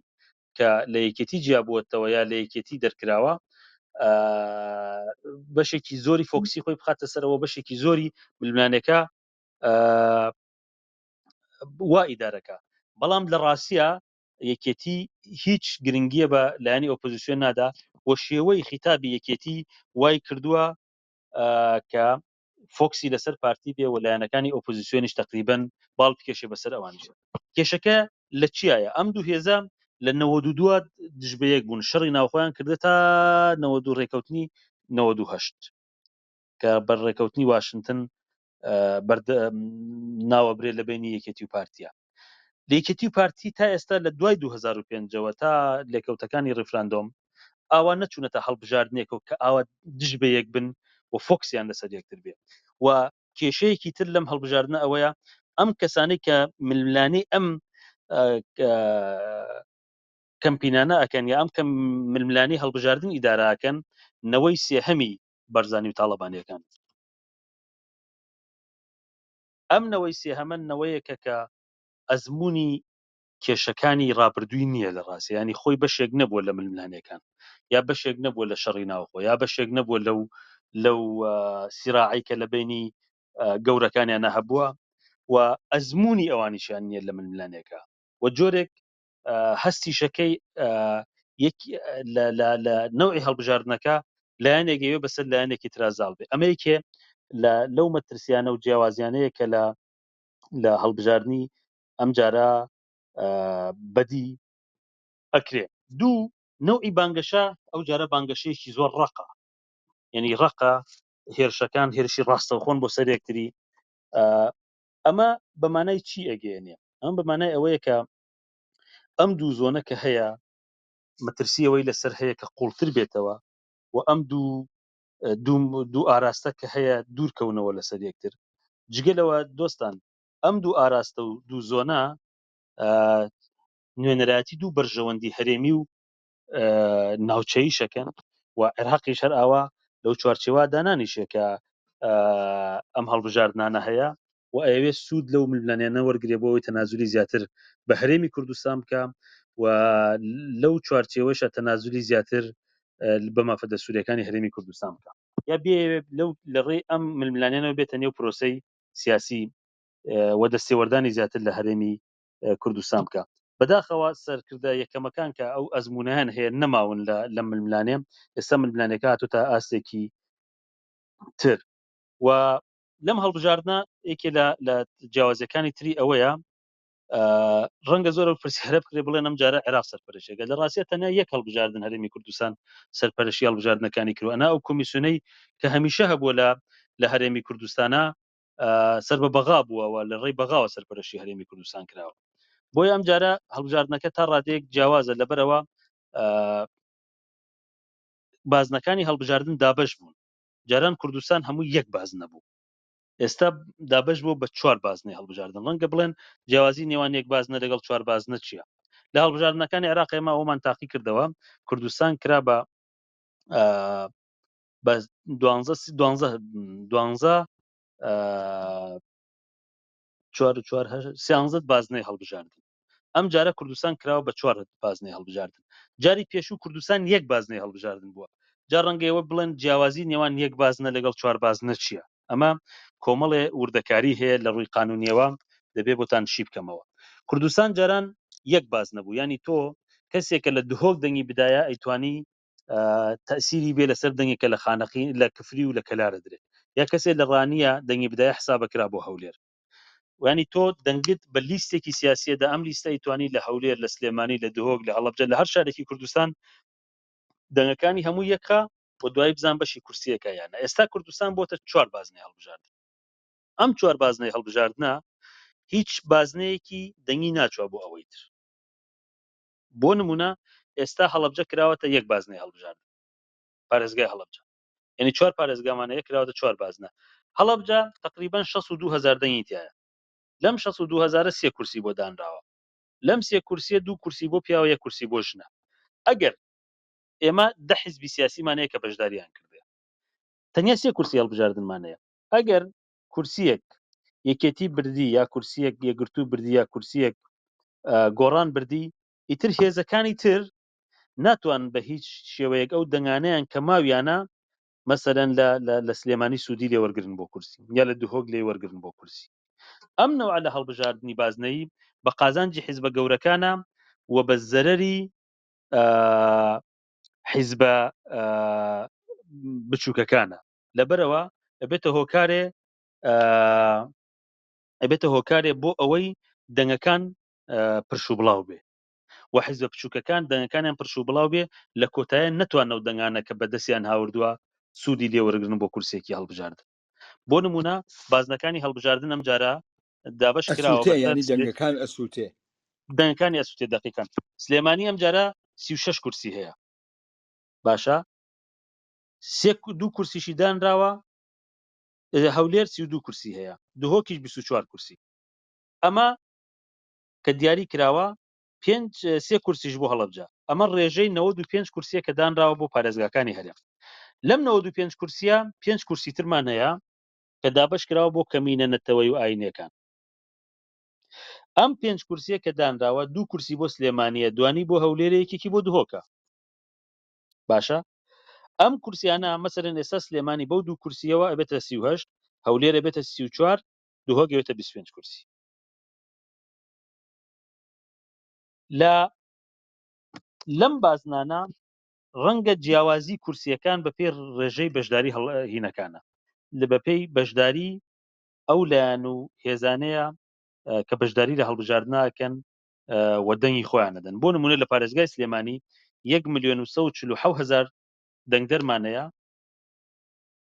کە لە یەکێتی جیابووەتەوە یا لە یەکێتی دەرکراوە بەشێکی زۆری فۆکسی خۆی بخاتە سەرەوە بەشێکی زۆری ملمانەکە وا ئیدارەکە بەڵام لە ڕاستە یەکێتی هیچ گرنگیە بە لایەنی ئۆپۆزیسیۆن نادا و شێوەی خیتابی یەکێتی وای کردووە کە فۆکسی لەسەر پارتی بێ و لایەنەکانی ئۆپۆزیسیۆنیش تقریبن باڵ بکێشێ بەسەر ئەوان کێشەکە لە چیایە ئەم دوو هێزە لە نەوە دوو دووە دژبەیەک بوون شەڕی ناوخۆیان کردە تا نەوە دوو ڕێکەوتنی نەوە دوو هەشت کە بەر ڕێکەوتنی واشنگتن ناوەبرێت لە بینی یەکێتی و پارتیا لەکێتی و پارتی تا ئێستا لە دوای 2005ەوە تا لێکەوتەکانی ڕیفراندۆم ئاوا نەچوونەتە هەڵبژاردنێکە کە ئاوا دژ بە یەک بن و فۆکسیان لەسەر یەکتر بێ و کێشەیەکی تر لەم هەڵبژاردنە ئەوەیە ئەم کەسانی کە ململانی ئەم کەمپینانە ئەکەن یا ئەم کەم ململانی هەڵبژاردن ئیداراکەن نەوەی سێهەمی بەرزانی و تاالبانیەکان ئەم نەوەی سێهەمە نەوەیەکە کە ئەزموونی کێشەکانی ڕابردووی نییە لە ڕاستیا یانی خۆی بەشێک نەبووە لە ململانێکان یا بەشێک نەبووە لە شەڕی ناوخۆ یا بەشێک نەبووە لەو لەو سیراعی کە لە بینی گەورەکانیان نەهەبووە و ئەزمموی ئەوانیشیان نییە لە ململانێکە و جۆرێک هەستیشەکەی لە نەوەی هەڵبژاردنەکە لایەنێک ئەوێ بەسەر لایەنێکی ترازاڵ بێ ئەمەیکێ لەو مەترسیانە و جیاوازیانەیە کە لە لە هەڵبژاردننی ئەم جارە بەدی ئەکرێ دوو نەوعی بانگەشە ئەو جارە بانگەشەیەکی زۆر ڕقە یعنی ڕقە هێرشەکان هێرشی ڕاستەوخۆن بۆ سەرێکتری ئەمە بەمانای چی ئەگەێنێ ئەم بەمانای ئەوەیە کە ئەم دوو زۆنە کە هەیە مەترسی ئەوەی لەسەر هەیە کە قوڵتر بێتەوە و ئەم دوو دوو ئاراستە کە هەیە دوورکەونەوە لەسەر یەکتر جگە لەوە دۆستان ئەم دوو ئاراستە و دوو زۆنە نوێنەرایەتی دوو بەرژەوەندی هەرێمی و ناوچەیی شەکەن و عێراقیش هەر ئاوا لەو چوارچێوا دانانیشێ کە ئەم هەڵبژاردنانە هەیە و ئەوێ سوود لەو ململانێنە وەرگێ بۆەوەی تەنازولی زیاتر بە هەرێمی کوردستان بکە و لەو چوارچێوەشە تەنازولی زیاتر بە مافەدە سوورەکانی هەرێمی کوردستان بکە یا بێ لەو لەڕێی ئەم ململانێنەوە بێتە نێو پرۆسی سیاسی و دەستێوەردانی زیاتر لە هەرێمی کوردستان بکا بەداخەوە سەرکردە یەکەمەکان کە ئەو ئەزمونەیان هەیە نەماون لە لەم ململانێ ئێستا ململانێکە هاتۆتە ئاستێکی تر و لەم هەڵبژاردنە یەکێ لە لە جیاوازەکانی تری ئەوەیە ڕەنگە زۆر پرسی هەرە بکرێ بڵێن ئەم جارە عێراق سەرپەرشێکە لە ڕاستە تەنیا یەک هەڵبژاردن هەرێمی کوردستان سەرپەرشی هەڵبژاردنەکانی کرۆنا ئەو کمیسیۆنەی کە هەمیشە هەبووە لە لە هەرێمی کوردستانە سەر بە بەغا بووەوە لە ڕێی بەغاوە سەرپەرشی هەرێمی کوردستان کراوە بۆی ئەم جارە هەڵبژاردنەکە تا ڕادێک جیاوازە لەبەرەوە بازنەکانی هەڵبژاردن دابش بوون جاران کوردستان هەموو یەک باز نەبوو ئێستا دابش بۆ بە چوار بازنەی هەڵبژاردن ڕەنگە بڵێن جیاوازی نێوان یەک بازنە لەگەڵ چوار بازنە چییە لە هەڵبژاردنەکانی عراقێمە ئەومان تاقی کردەوە کوردستان کرا بە بە دوانزە سی- دوانزە دوانزە ئا، چوار و چوار هەشت- سیانزە بازنەی هەڵبژاردن ئەم جارە کوردستان کراوە بە چوار بازنەی هەڵبژاردن جاری پێشوو کوردستان یەک بازنەی هەڵبژاردن بووە جا ڕەنگە ئێوە بڵێن جیاوازی نێوان یەک بازنە لەگەڵ چوار بازنە چییە ئەمە کۆمەڵێ وردەکاری هەیە لە ڕووی قانونیەوە دەبێ بۆتان شی بکەمەوە کوردستان جاران یەک باز نەبوو ینی تۆ کەسێکە لە دهۆک دەنگی بدایە ئەیتوانی تەسیری بێ لەسەر دەنگێک کە لە خانەقی لە کفری و لە کەلارە درێت یا کەسێک لە ڕانیە دەنگی بدای حسابە کرا بۆ هەولێر وانی تۆ دەنگت بە لیستێکی سیاسیەدا ئەم لیستای توانی لە هەولێر لە سلێمانی لە دهۆک لە هەڵبجە لە هەر شارێکی کوردستان دەنگەکانی هەموو یەکە و دوای بزان بەشی کورسیەکە یانە ئێستا کوردستان بۆتە چوار بازنەی هەڵبژارد ئەم چوار بازنەی هەڵبژاردنە هیچ بازنەیەکی دەنگی ناچوە بۆ ئەوەی تر بۆ نموونە ئێستا هەڵەبجە کراوەتە یەک بازنەی هەڵبژاردن پارێزگای هەڵەبجە یانی چوار پارێزگامانە یەک کراوەتە چوار بازنە هەڵەبجە تقریبا شەست و دوو هەزار دەنگی تایە لەم شەست و دوو هەزارە سێ کورسی بۆ دانراوە لەم سێ کورسیە دوو کورسی بۆ پیاوە یەک کورسی بۆ ژنە ئەگەر ئێمە دە حیزبی سیاسیمانەیە کە بەشداریان کردێ تەنیا سێ کورسی هەڵبژاردنمانەیە ئەگەر کورسیەک یەکێتی بردی یا کورسیەک یەکگرتوو بردی یا کورسیەک گۆڕان بردی ئیتر هێزەکانی تر ناتوان بە هیچ شێوەیەک ئەو دەنگانیان کە ماویانە مەسەرەن لە لە سلێمانی سوودی لێ وەرگن بۆ کورسی یا لە دهۆک لێ وەرگن بۆ کورسی ئەم نەوە لە هەڵبژاردننی بازنەی بە قازانجی حیزبە گەورەکانە و بە زەرری حیزبە بچووکەکانە لەبەرئەوە ئەبێتە هۆکارێ ئەبێتە هۆکارێ بۆ ئەوەی دەنگەکان پرش و بڵاو بێ و حیزە بچووکەکان دەنگەکانیان پرش و بڵاو بێ لە کۆتایە نەتوانە و دەنگانە کە بەدەستیان هاوردووە سوودی لێوەرگن بۆ کورسێکی هەڵبژاردن بۆ نمونە بازنەکانی هەڵبژاردن ئەم جارە دابش کراوە ینی دەنگەکان ئەسووتێ دەنگەکانی ئەسووتێ دقیقان سلێمانی ئەم جارە سی6 کورسی هەیە باشە سێ دوو کورسیشی دانراوە هەولێر سی و دوو کورسی هەیە دهۆکیش بیست و چوار کورسی ئەمە کە دیاری کراوە پێنج سێ کورسیش بۆ هەڵەبجە ئەمە ڕێژەی نەوە دو پێنج کورسیە کە دانراوە بۆ پارێزگاکانی هەرێم لەم نەوە دو پێنج کورسیە پێنج کورسی ترمان هەیە کە دابش کراوە بۆ کەمینە نەتەوەی و ئاینەکان ئەم پێنج کورسیە کە دانراوە دوو کورسی بۆ سلێمانە دوانی بۆ هەولێرە یەکێکی بۆ دهۆکە باشە ئەم کورسیانە مەسەرەن ئێستا سلێمانی بەو دوو کورسیەوە ئەبێتە سی و هەشت هەولێرە بێتە سی و چوار دوهۆگەوێتە بیست پێنج کورسی لە لەم بازنانە ڕەنگە جیاوازی کورسیەکان بە پێ ڕێژەی بەشداری هینەکانە لە بەپێی بەشداری ئەو لایەن و هێزانەیە کە بەشداری لە هەڵبژاردناکەن و دەنگی خۆیان نەدەن بۆ نمونە لە پارێزگای سلێمانی یەک ملیۆن و سە و چل و حەو هەزار دەنگدەرمانەیە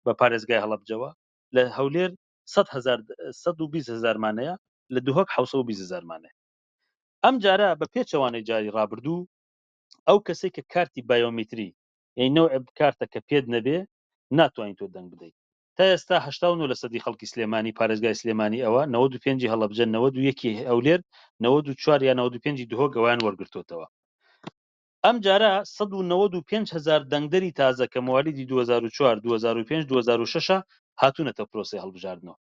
بە پارێزگای هەڵبجەوە لە هەولێر سە هزار سە و بیست هزارمانەیە لە دهۆک حوسە و بیست هزارمانەیە ئەم جارە بە پێچەوانەی جاری ڕابردوو ئەو کەسێک کە کارتی بایۆمیتری یعنی نەوع کارتە کە پێت نەبێ ناتوانین تۆ دەنگ بدەیت تا ئێستا هەشتا و نۆ لەسەدی خەڵکی سلێمانی پارێزگای سلێمانی ئەوە نەوەد و پێنجی هەڵەبجە نەوەد و یەکی هەولێر نەوەد و چوار یا نەوەد و پێنجی دهۆک ئەوەیان وەرگرتۆتەوە ئەمجارە سەد و نەوەد و پێنج هەزار دەنگدەری تازە کە موالیدی دوو هەزار و چوار دوو هەزار و پێنج دوو هەزار و شەشە هاتوونەتە پرۆسەی هەڵبژاردنەوە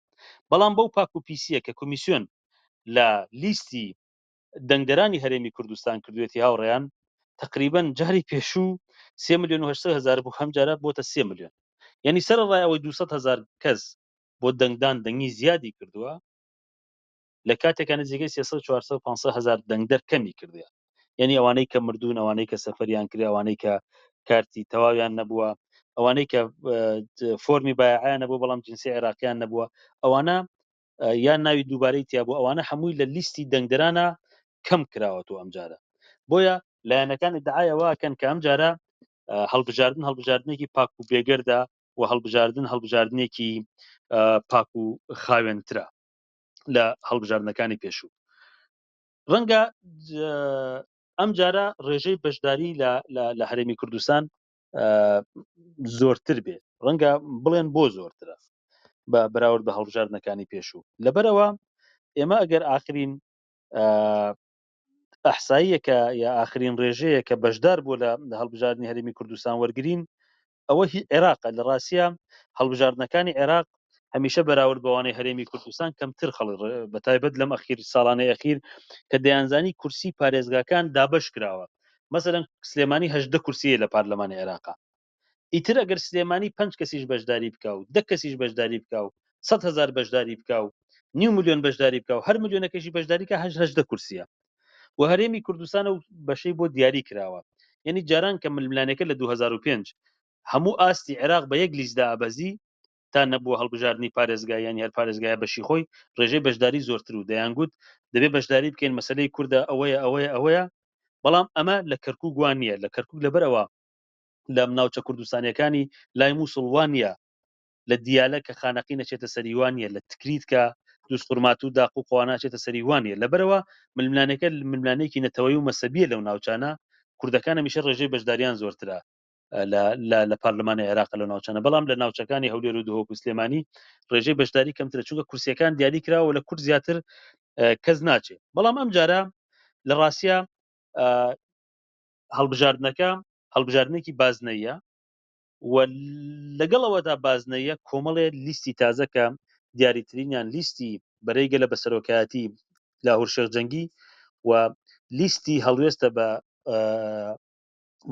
بەڵام بەو پاک و پیسییە کە کۆمیسیۆن لە لیستی دەنگدەرانی هەرێمی کوردستان کردوێتی هاوڕێیان تقریبەن جاری پێشوو سێ ملیۆن و هەشت هەزار بوو هەم جارە بۆتە سێ ملیۆن یعنی سەر ڕای ئەوەی دو هەزار کەس بۆ دەنگدان دەنگی زیادی کردووە لە کاتێکە نزیکەی سێ سەد چوار سەد پانسە هەزار دەنگدەر کەمی کردە یعنی ئەوانەی کە مردوون ئەوانەی کە سەفەریان کرد ئەوانەی کە کارتی تەواویان نەبووە ئەوانەی کە فۆرمی بایعیان نەبوو بەڵام جنسی عێراقیان نەبووە ئەوانە یان ناوی دووبارەی تیا بوو ئەوانە هەمووی لە لیستی دەنگدرانە کەم کراوەەوە ئەم جارە بۆیە لایەنەکانی دعاەوەکەن کە ئەم جارە هەڵبژاردن هەڵبژاردنێکی پاک و بێگەردا و هەڵبژاردن هەڵبژاردنێکی پاک و خاوێنترا لە هەڵبژاردنەکانی پێشوو ڕەنگە ئەم جارە ڕێژەی بەشداری لە هەرێمی کوردستان زۆرتر بێت ڕەنگە بڵێن بۆ زۆرترە بە بەراورد بە هەڵبژاردنەکانی پێشوو لەبەرەوە ئێمە ئەگەر ئاخرین ئەحساییەکە یا ئاخرین ڕێژەیە کە بەشدار بوو لە هەڵبژاردننی هەرمی کوردستان وەرگین ئەوە هی عێراق لە ڕاستە هەڵبژاردنەکانی عێراق هەمیشە بەراورد بەوانەی هەرێمی کوردستان کەمتر خەڵک ڕێ بەتایبەت لەم ئەخیر ساڵانەی ئەخیر کە دەیانزانی کورسی پارێزگاکان دابەش کراوە مەسەلەن سلێمانی هەژدە کورسیە لە پارلەمانی عێراقا ئیتر ئەگەر سلێمانی پنج کەسیش بەشداری بکە و دە کەسیش بەشداری بکە و سەد هزار بەشداری بکە و نیو ملیۆن بەشداری بکە و هەر ملیۆنەکەشی بەشداریکە هەش هەژدە کورسیە و هەرێمی کوردستان و بەشەی بۆ دیاری کراوە یعنی جاران کە ململانێکە لە 2005 هەموو ئاستی عێراق بە یەک لیست دائەبەزی تا نەبووە هەڵبژاردنی پارێزگا یانی هەر پارێزگایە بەشی خۆی ڕێژەی بەشداری زۆرتر و دەیانگوت دەبێ بەشداری بکەین مەسەلەی کوردە ئەوەیە ئەوەیە ئەوەیە بەڵام ئەمە لە کەرکوک وا نییە لە کەرکوک لەبەر ئەوە لە ناوچە کوردستانیەکانی لای مووسڵ وا نییە لە دیالە کە خانەقی نەچێتە سەری وا نییە لە تکریت کە دووس خورمات و داق و قوانا چێتە سەری وا نییە لەبەرەوە ململانێکە ململانێکی نەتەوەی و مەسەبیە لەو ناوچانە کوردەکان هەمیشە ڕێژەی بەشداریان زۆرترە لە پارلمانی عێراق لە ناوچانە بەڵام لە ناوچەکانی هەولێر و دهۆک و سلێمانی ڕێژەی بەشداری کەمترە چونکە کورسیەکان دیاری کراوە لە کورد زیاتر کەس ناچێت بەڵام ئەم جارە لە ڕاستە هەڵبژاردنەکە هەڵبژاردنێکی بازنەیە و لەگەڵەوەدا بازنەیە کۆمەڵێ لیستی تازەکە دیاریترینیان لیستی بەرەیگە لە بەسەرۆکایەتی لاهور شێخ جەنگی و لیستی هەڵوێستە بە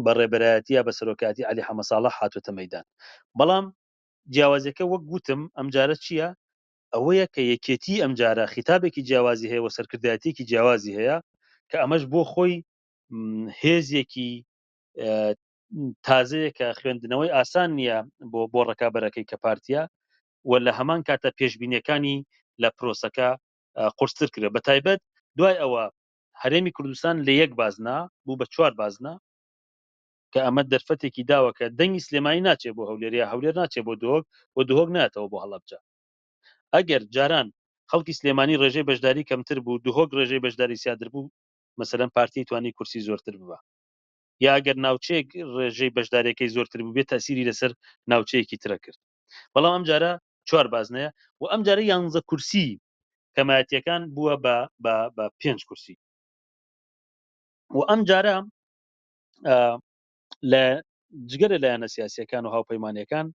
بە ڕێبەرایەتیە بە سەرۆکاتی علی حەمەساڵە حاتوتە مەدان بەڵام جیاوازەکە وەک گوتم ئەم جارە چییە ئەوەیە کە یەکێتی ئەم جارە خیتابێکی جیاوازی هەیە و سەرکردایەتێکی جیاوازی هەیە کە ئەمەش بۆ خۆی هێزێکی تازەیە کە خوێندنەوەی ئاسان نییە بۆ بۆ ڕکابەرەکەی کە پارتیا و لە هەمان کاتە پێشببینەکانی لە پرۆسەکە قرستر کرێ بە تایبەت دوای ئەوە هەرێمی کوردستان لە یەک بازنە بوو بە چوار بازنە، کە ئەمە دەرفەتێکی داوە کە دەنگی سلێمانی ناچێت بۆ هەولێر یا هەولێر ناچێت بۆ دهۆک و دهۆک نایەتەوە بۆ هەڵەبجە. ئەگەر جاران خەڵکی سلێمانی ڕێژەی بەشداری کەمتر بوو دهۆک ڕێژەی بەشداری زیادر بوو مەسەلەن پارتی توانی کورسی زۆرتر ببا یا ئەگەر ناوچەیەک ڕێژەی بەشداریەکەی زۆرتر بووبێت تەئسیری لەسەر ناوچەیەکی ترەکرد بەڵام ئەمجارە چوار بازنەیە و ئەمجارە یانزە کورسی کەمایەتیەکان بووە بە بە بە پێنج کورسی و ئەم جارە لە جگەرە لایەنە سیاسەکان و هاوپەیمانەکان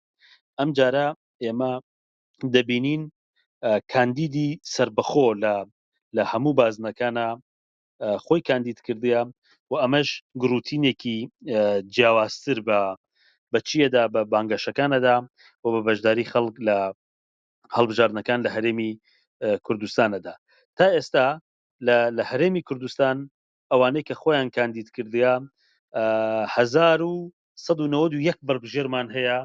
ئەم جارە ئێمە دەبینین کاندیدی سربەخۆ لە لە هەموو بازنەکانە خۆی کاندید کردیە و ئەمەش گروتینێکی جیاوازتر بە بەچیەدا بە بانگەشەکانەدا و بە بەشداری خەڵک لە هەڵبژاردنەکان لە هەرێمی کوردستانەدا تا ئێستا لە هەرێمی کوردستان ئەوانەی کە خۆیان کاندید کردیا 1991 بەربژێرمان هەیە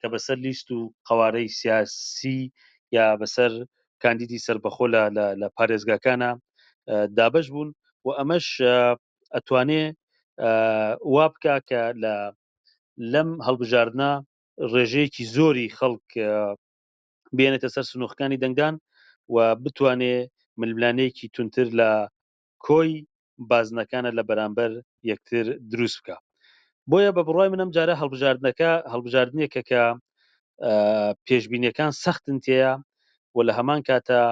کە بەسەر لیست و قوارەی سیاسی یا بەسەر کاندیدی سربەخۆ لە لە پارێزگاکانە دابش بوون و ئەمەش ئەتوانێ وا بکە کە لە لەم هەڵبژاردنە ڕێژەیەکی زۆری خەڵک بێنێتە سەر سنووخکانی دەنگدان و بتوانێ ململانێیەکی تونتر لە کۆی بازنەکانە لە بەرامبەر یەکتر دروست بکە بۆیە بە بڕای منم جارە هەڵبژاردنەکە هەڵبژاردنێکە کە پێشببینیەکان سەختن تێە و لە هەمان کاتە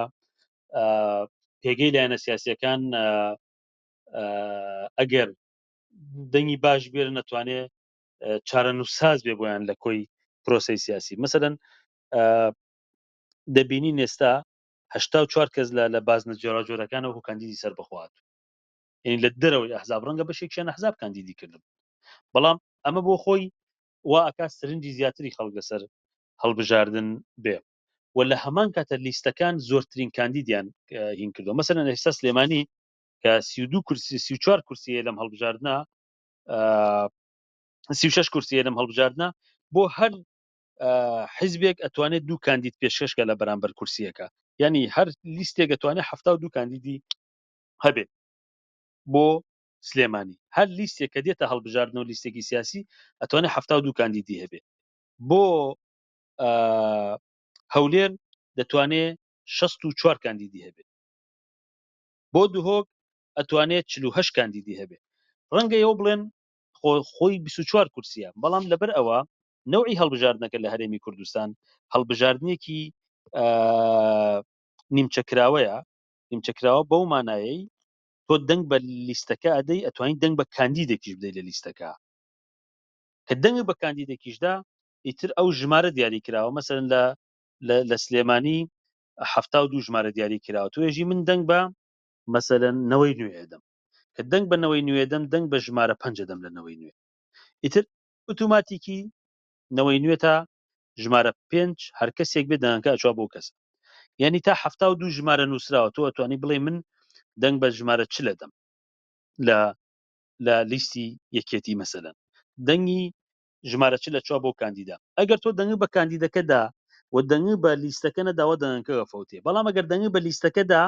پێگەی لایەنە سیاسەکان ئەگەر دەنگی باش بێر نەتوانێت چارەنووسساز بێ بۆیان لە کۆی پرۆسی سیاسی مەسەدەن دەبینی نێستا هشتا چوار کەس لە لە بازنە جۆراجۆرەکان و کاندیدی سەر بخوات یعنی لە دەرەوەی ئەحزاب ڕەنگە بەشێکیان ئەحزاب کاندیدی کردن بەڵام ئەمە بۆ خۆی وا ئەکا سرنجی زیاتری خەڵک لەسەر هەڵبژاردن بێ و لە هەمان کاتە لیستەکان زۆرترین کاندیدیان هین کردو مەسەن ئێستا سلێمانی کە سی دو کورسی سی چوار کورسیە لەم هەڵبژاردنە سی شش کورسی لەم هەڵبژاردنە بۆ هەر حزبێک ئەتوانێت دوو کاندید پێشکەشکە لە بەرامبەر کورسیەکە ینی هەر لیستێک ئەتوانێت هەفتا و دوو کاندیدی هەبێت بۆ سلێمانی هەر لیستێک کە دێتە هەڵبژاردن و لیستێکی سیاسی ئەتوانێت هەفتا و دوو کاندیدی هەبێت بۆ هەولێر دەتوانێت 64 کاندیدی هەبێت بۆ دهۆک ئەتوانێت چل و هەشت کاندیدی هەبێت ڕەنگە ئێوە بڵێن خۆ خۆی بیست و چوار کورسییە بەڵام لەبەر ئەوە نەوعی هەڵبژاردنەکە لە هەرێمی کوردستان هەڵبژاردنێکی نیمچەکراوەیە نیمچەکراوە بەو مانایەی تۆ دەنگ بە لیستەکە ئەدەی ئەتوانین دەنگ بە کاندیدێکیش بدەی لە لیستەکە کە دەنگ بە کاندیدێکیشدا ئیتر ئەو ژمارە دیاری کراوە مەسەن لە لە سلێمانی هەفتا و دوو ژمارە دیاری کراوە توێژی من دەنگ بە مەسەلەن نەوەی نوێ ئەدەم کە دەنگ بە نەوەی نوێ دەم دەنگ بە ژمارە پەنج ئەدەم لە نەوەی نوێ ئیتر ئوتوماتیکی نەوەی نوێ تا ژمارە پێنج هەر کەسێک بێ دەنگەکە ئەچوا بۆ کەس یعنی تا حەفتا و دوو ژمارە نووسراوە تۆ ئەتوانی بڵێ من دەنگ بە ژمارە چ لەدەم لە لە لیستی یەکێتی مەسەلەن دەنگی ژمارە چل لە چوار بۆ کاندیدا. ئەگەر تۆ دەنگت بە کاندیدەکە دا و دەنگت بە لیستەکە نەداوە دەنگەکە ئەفەوتێ، بەڵام ئەگەر دەنگت بە لیستەکە دا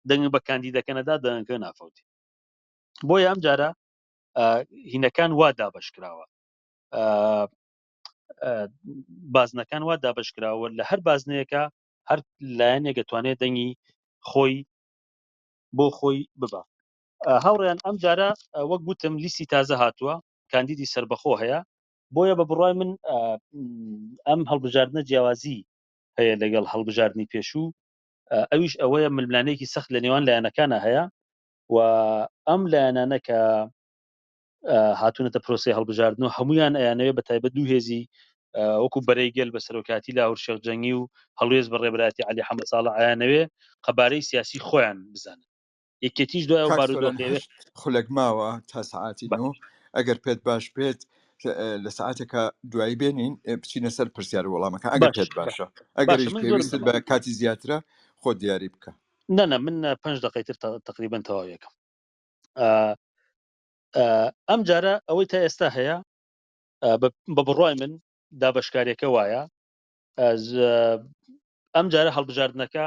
دەنگت بە کاندیدەکە نەدا دەنگەکە نافەوتێ. بۆیە ئەم جارە هینەکان وا دابەش کراوە. بازنەکان وا دابەش کراوە لە هەر بازنەیەکە هەر لایەنێک دەتوانێت دەنگی خۆی بۆ خۆی ببە. هاوڕێیان ئەم جارە وەک گوتم لیستی تازە هاتووە کاندیدی سەربەخۆ هەیە، بۆیە بە بڕوای من ئەم هەڵبژاردنە جیاوازی هەیە لەگەڵ هەڵبژاردنی پێشوو، ئەویش ئەوەیە ململانێکی سەخت لە نێوان لایەنەکانە هەیە و ئەم لایەنانە کە هاتوونەتە پرۆسی هەڵبژاردن و هەمویان ئەیانەوێ بە تایبەت دوو هێزی وەکو بەرەی گەل بە سەرۆکاتی لاهور شێخ جەنگی و هەڵوێز بە ڕێبراتی علی حەمە ساڵە ئایانەوێ قەبارەی سیاسی خۆیان بزانن یەکێتیش دوای ئەو بارودۆخێش خولەک ماوە تا سعاتی نۆ ئەگەر پێت باش پێت لە سعاتێکە دوایی بێنین بچینە سەر پرسیار وەڵامەکە ئەگەر پێت باشە ئەگەر پێویست بە کاتی زیاترە خۆ دیاری بکە نەنە من پ دقی تر تقریبن تەواوەکەم ئەم جارە ئەوەی تا ئێستا هەیە بە بڕای من دابشکارێکە وایە ئەم جارە هەڵبژاردنەکە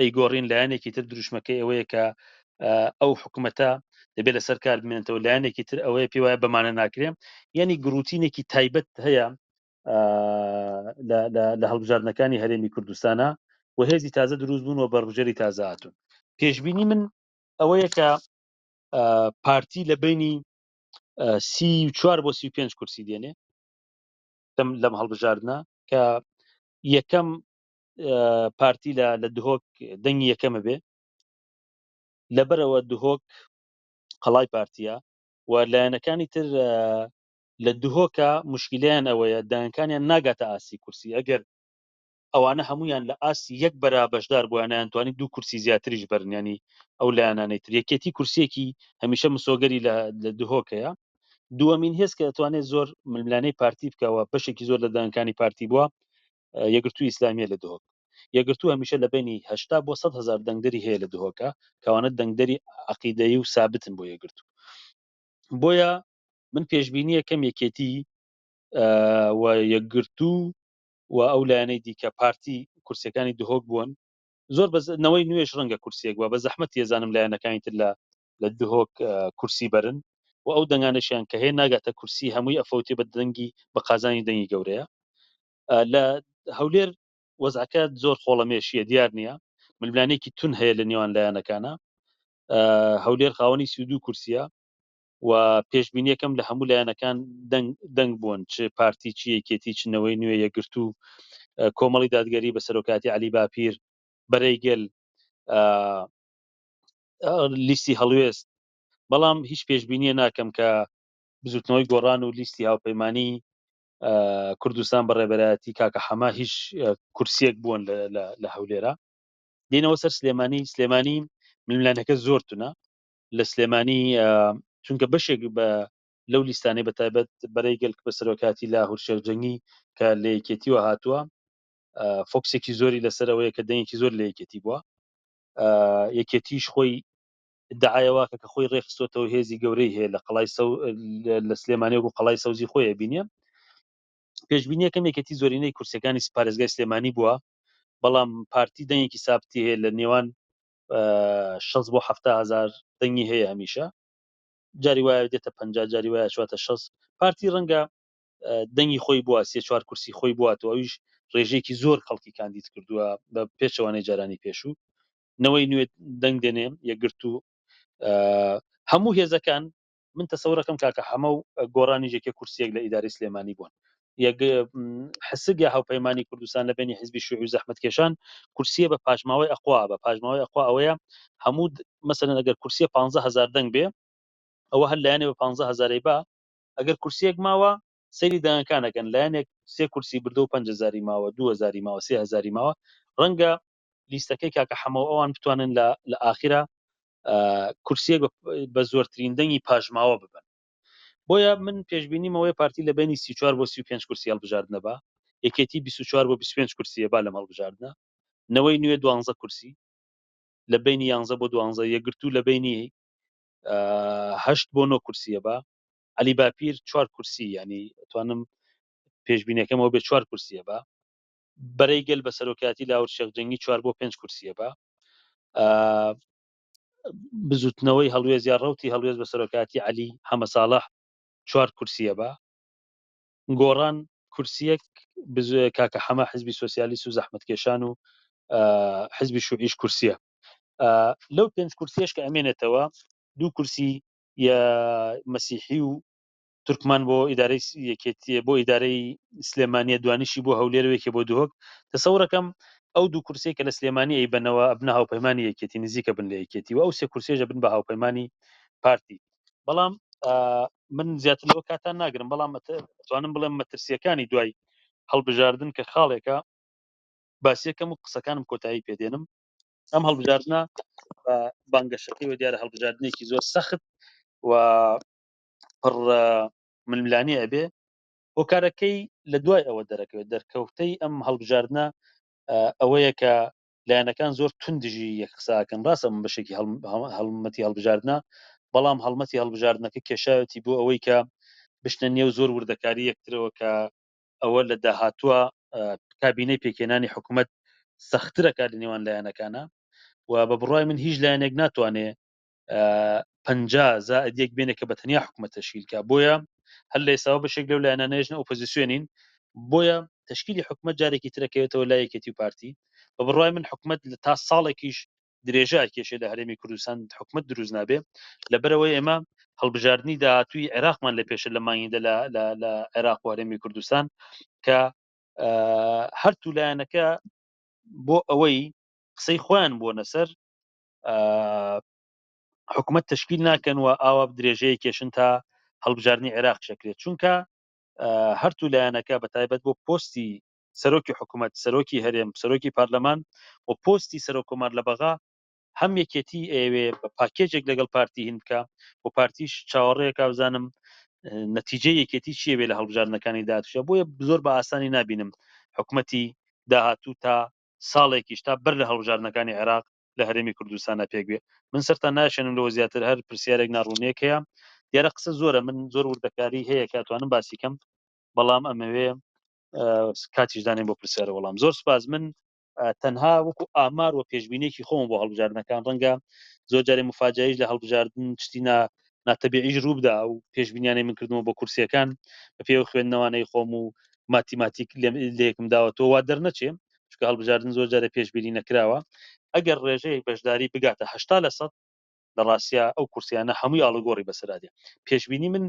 ئەیگۆڕین لایەنێکی تر دروشمەکەی ئەوەیە کە ئەو حکوومەتە دەبێت لەسەر کار بمێنێتەوە لایەنێکی تر ئەوەیە پێ وایە بەمانە ناکرێن یعنی گروتینێکی تایبەت هەیە لە هەڵبژاردنەکانی هەرێمی کوردستانە و هێزی تازە دروست بوون و بەڕژەری تازاتون پێشببینی من ئەوەیە کە پارتی لە بینی سی چوار بۆ سی پێنج کورسی دێنێ لەم هەڵبژاردنە کە یەکەم پارتی لە لە دهۆک دەنگی یەکەمە بێ لەبەرەوە دهۆک قەڵای پارتیە و لایەنەکانی تر لە دهۆکە مشکلیان ئەوەیە دایانکانیان ناگاتە ئاسی کورسی ئەگەر ئەوانە هەمویان لە ئاسی یەک بەرا بەشدار بووانیان توانی دوو کورسی زیاتریش بەرنیانی ئەو لایەنانەی تر یەکێتی کورسێکی هەمیشە مسۆگەری لە دهۆکەیە دووەمین هێز کە دەتوانێت زۆر ململانەی پارتی بکەوە بەشێکی زۆر لە دانکانی پارتی بووە یەکگرتووی ئیسلامیە لە دهۆک یەکگرتوو هەمیشە لە بینی هەشتا بۆ سەد هەزار دەنگدەری هەیە لە دهۆکە کەوانە دەنگدەری عقیدەیی و سابتن بۆ یەکگرتوو بۆیە من پێشببینیە کەم یەکێتی و یەکگرتوو و ئەو لایەنەی دیکە پارتی کورسەکانی دهۆک بوون زۆر بەنەوەی نوێش ڕەنگە کورسێک وە بە زەحمەت تێزانم لایەنەکانی تر لە لە دهۆک کورسی بەرن و ئەو دەنگانەشیان کە هەیە ناگاتە کورسی هەمووی ئەفەوتێ بە دەنگی بە قازانی دەنگی گەورەیە لە هەولێر وەزعەکە زۆر خۆڵەمێشیە دیار نییە ململانێکی تون هەیە لە نێوان لایەنەکانە هەولێر خاوەنی سیودو کورسیە و پێشببینیەکەم لە هەموو لایەنەکان دەنگ بوون چ پارتی چی یەکێتی چنەوەی نوێ یەگرتو کۆمەڵی دادگەری بە سەرۆکاتی علی باپیر بەرەیگەل لیستی هەڵوێست بەڵام هیچ پێشببینیە ناکەم کە بزوتنەوەی گۆڕان و لیستی هاوپەیمانانی کوردستان بە ڕێبەرایەتی کاکە حەما هیچ کورسیەک بوون لە هەولێرە دینەوە سەر سلێمانی سلێمانی ململانەکە زۆر تونە لە سلێمانی چونکە بەشێک بە لەو لیستانەی بە تایبەت بەرەی گەلک بە سەرۆکاتی لا هورشێک جەنگی کە لە یەکێتیوە هاتووە فۆکسێکی زۆری لەسەرەوەی کە دەنگێکی زۆر لە یەکێتی بووە یەکێتیش خۆی دعایەواکە کە خۆی ڕێخستۆتەوە هێزی گەورەی هەیە لە قەڵای سەو لە سلێمانێک و قەڵای سەوزی خۆیە بینە پێشببینیەکەم یەکێتی زۆرینەی کورسەکانی پارێزگای سلێمانی بووە بەڵام پارتی دەنگێکی سابتی هەیە لە نێوان 6 بۆ هزار دەنگی هەیە هەمیشە جاری وایە دێتە پ جاری وایە چواتە 6 پارتی ڕەنگە دەنگی خۆی بووە سێ چوار کورسی خۆی بواتەوە ئەویش ڕێژەیەکی زۆر خەڵکی کاندید کردووە بە پێچەوانەی جارانی پێشوو نەوەی نوێ دەنگ دێنێ یەکگرت و هەموو هێزەکان من تەسەورەکەم کاکە حەمە و گۆرانی یەکێ کورسیەک لە ئیداری سلێمانی بوون حسک یا هاوپەیمانانی کوردستان لە بینی حزبی شوعی و زەحمت کێشان کورسیە بە پاشماوەی ئەخوا بە پاشماوەی ئەخوا ئەوەیە هەموو مەسەن ئەگەر کورسیە 15هزار دەنگ بێ ئەوە هەر لایەنێ بە 15هزارەی با ئەگەر کورسیەک ماوە سەیری دەنگەکان ئەکەن لایەنێک سێ کورسی بردەو پەنج هەزاری ماوە دوو هەزاری ماوە سێ هەزاری ماوە ڕەنگە لیستەکەی کاکە حەمەو ئەوان بتوانن لە لە ئاخیرا کورسیەک بە زۆرترین دەنگی پاشماوە ببن بۆیە من پێشببینی مەوەی پارتی لە بینی 34 بۆ 35 کورسی هەڵبژاردنە بە یەکێتی 24 بۆ 25 کورسیە با لەم هەڵبژاردنە نەوەی نوێ دوانزە کورسی لە بینی یانزە بۆ دوانزە یەکگرتوو لە بینی هەشت بۆ نۆ کورسیە بە علی باپیر چوار کورسی ینی توانم پێشبینەکەمەوە بێ چوار کورسیە بە بەرەی گەل بە سەرۆکاتی لاور شێخجەنگی چوار بۆ پێنج کورسیە بە بزوتنەوەی هەڵوێز یا ڕوتی هەڵوێز بە سەرۆکاتی علی حەمە ساڵح چوار کورسیە بە گۆڕان کورسیەک کاکە حەمە حزبی سوسیالیست و زەحمتکێشان و حزبی شوعیش کورسیە لەو پێنج کورسیەش کە ئەمێنێتەوە دوو کورسی یە مەسیحی و تورکمان بۆ ئیدارەی یەکێتی بۆ ئیدارەی سلێمانیە دوانیشی بۆ هەولێروێکی بۆ دهۆک دەسەورەکەم ئەو دوو کورسی کە لە سلێمانی ئەی بنەوە ئەبنە هاوپەیمانانی یەکێتی نزیکە بن لە یەکێتی و ئەو سێ کورسێژە بن بە هاوپەیمانانی پارتی بەڵام من زیاتر لەوە کاتان ناگرم بەڵام توانم بڵێم مەترسیەکانی دوای هەڵبژاردن کە خاڵێکە باسیەکەم و قسەکانم کۆتایی پێدێنم ئەم هەڵبژاردنە بانگەشەکەی وە دیارە هەڵبژاردنێکی زۆر سەخت و پڕ ململانێ ئەبێ هۆکارەکەی لە دوای ئەوە دەرەکەوێت دەرکەوتەی ئەم هەڵبژاردنە ئەوەیە کە لایەنەکان زۆر توندژی یەک قساکەن ڕاستە من بەشێکی هەڵمەتی هەڵبژاردنە بەڵام هەڵمەتی هەڵبژاردنەکە کێشاوەتی بۆ ئەوەی کە بشتە نێو زۆر وردەکاری یەکترەوە کە ئەوە لە داهاتووە کابینەی پێکهێنانی حکومەت سەخترە کار لە نێوان لایەنەکانە و بە بڕای من هیچ لایەنێک ناتوانێ پ زائدیەک بێنێ کە بە تەنیا حکومەت تشکیلکە بۆیە هەر لە ئێساوە بەشێک لەو لایەنانێژنە ئۆپۆزیسیۆنین بۆیە تشکیلی حکومت جارێکی ترەکەوێتەوە لایەکێتی و پارتی بە بڕای من حکومت لە تا ساڵێکیش درێژە ئەکێشێ لە هەرێمی کوردستان حکومت دروست نابێ لەبەرەوەی ئێمە هەڵبژاردننی داهاتوی عێراقمان لە پێشە لە مانگیدا لە عێراق و هەرێمی کوردستان کە هەرتوو لایەنەکە بۆ ئەوەی قسەی خۆیان بۆ نەسەر حکومت تشکیل ناکەن و ئاوا درێژەیە کێشن تا هەڵبژارنی عێراق شەکرێت چونکە هەرتوو لایەنەکە بە تایبەت بۆ پۆستی سەرۆکی حکومەت، سەرۆکی هەرێم، سەرۆکی پارلەمان و پۆستی سەرۆک کۆمار لە بەغا، هەم یەکێتی ئەیەوێ بە پاکێجێک لەگەڵ پارتی هین بکا و پارتیش چاوەڕێیەکا بزانم نەتیجەی یەکێتی چیە بێ لە هەڵبژاردنەکانی داهاتووشا، بۆیە زۆر بە ئاسانی نابینم حکومەتی داهاتوو تا ساڵێکیش تا بەر لە هەڵبژاردنەکانی عێراق لە هەرێمی کوردستانا پێک بێ، من سەرتان ناشێنم لەوە زیاتر هەر پرسیارێک ناڕوونیەک هەیە، دیارە قسە زۆرە من زۆر وردەکاری هەیە کە ئەتوانم باسی کەم بەڵام ئەمەوێ کاتیش دانێن بۆ پرسیار و وەڵام زۆر سپاس من تەنها وەکو ئامار و پێشبینێکی خۆم بۆ هەڵبژاردنەکان ڕەنگە زۆر جارێ مفاجایش لە هەڵبژاردن شتی نا ناتەبیعیش رووبدا و پێشبینیانەی من کردنەوە بۆ کورسیەکان بە پێوە خوێندنەوانەی خۆم و ماتیماتیک لێکم داوەتەوە وا دەرنەچێ چکە هەڵبژاردن زۆر جارە پێشبیری نەکراوە ئەگەر ڕێژەیەک بەشداری بگاتە هشتا لە سەد لە ڕاستە ئەو کورسیانە هەمووی ئاڵگۆڕی بەسەرادێ پێشببینی من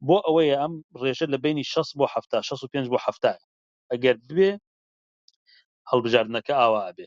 بۆ ئەوەیە ئەم ڕێژە لە بەینی شەست بۆ حەفتا شەست و پێنج بۆ حەفتایە ئەگەر ببێ هەڵبژاردنەکە ئاوا ئەبێ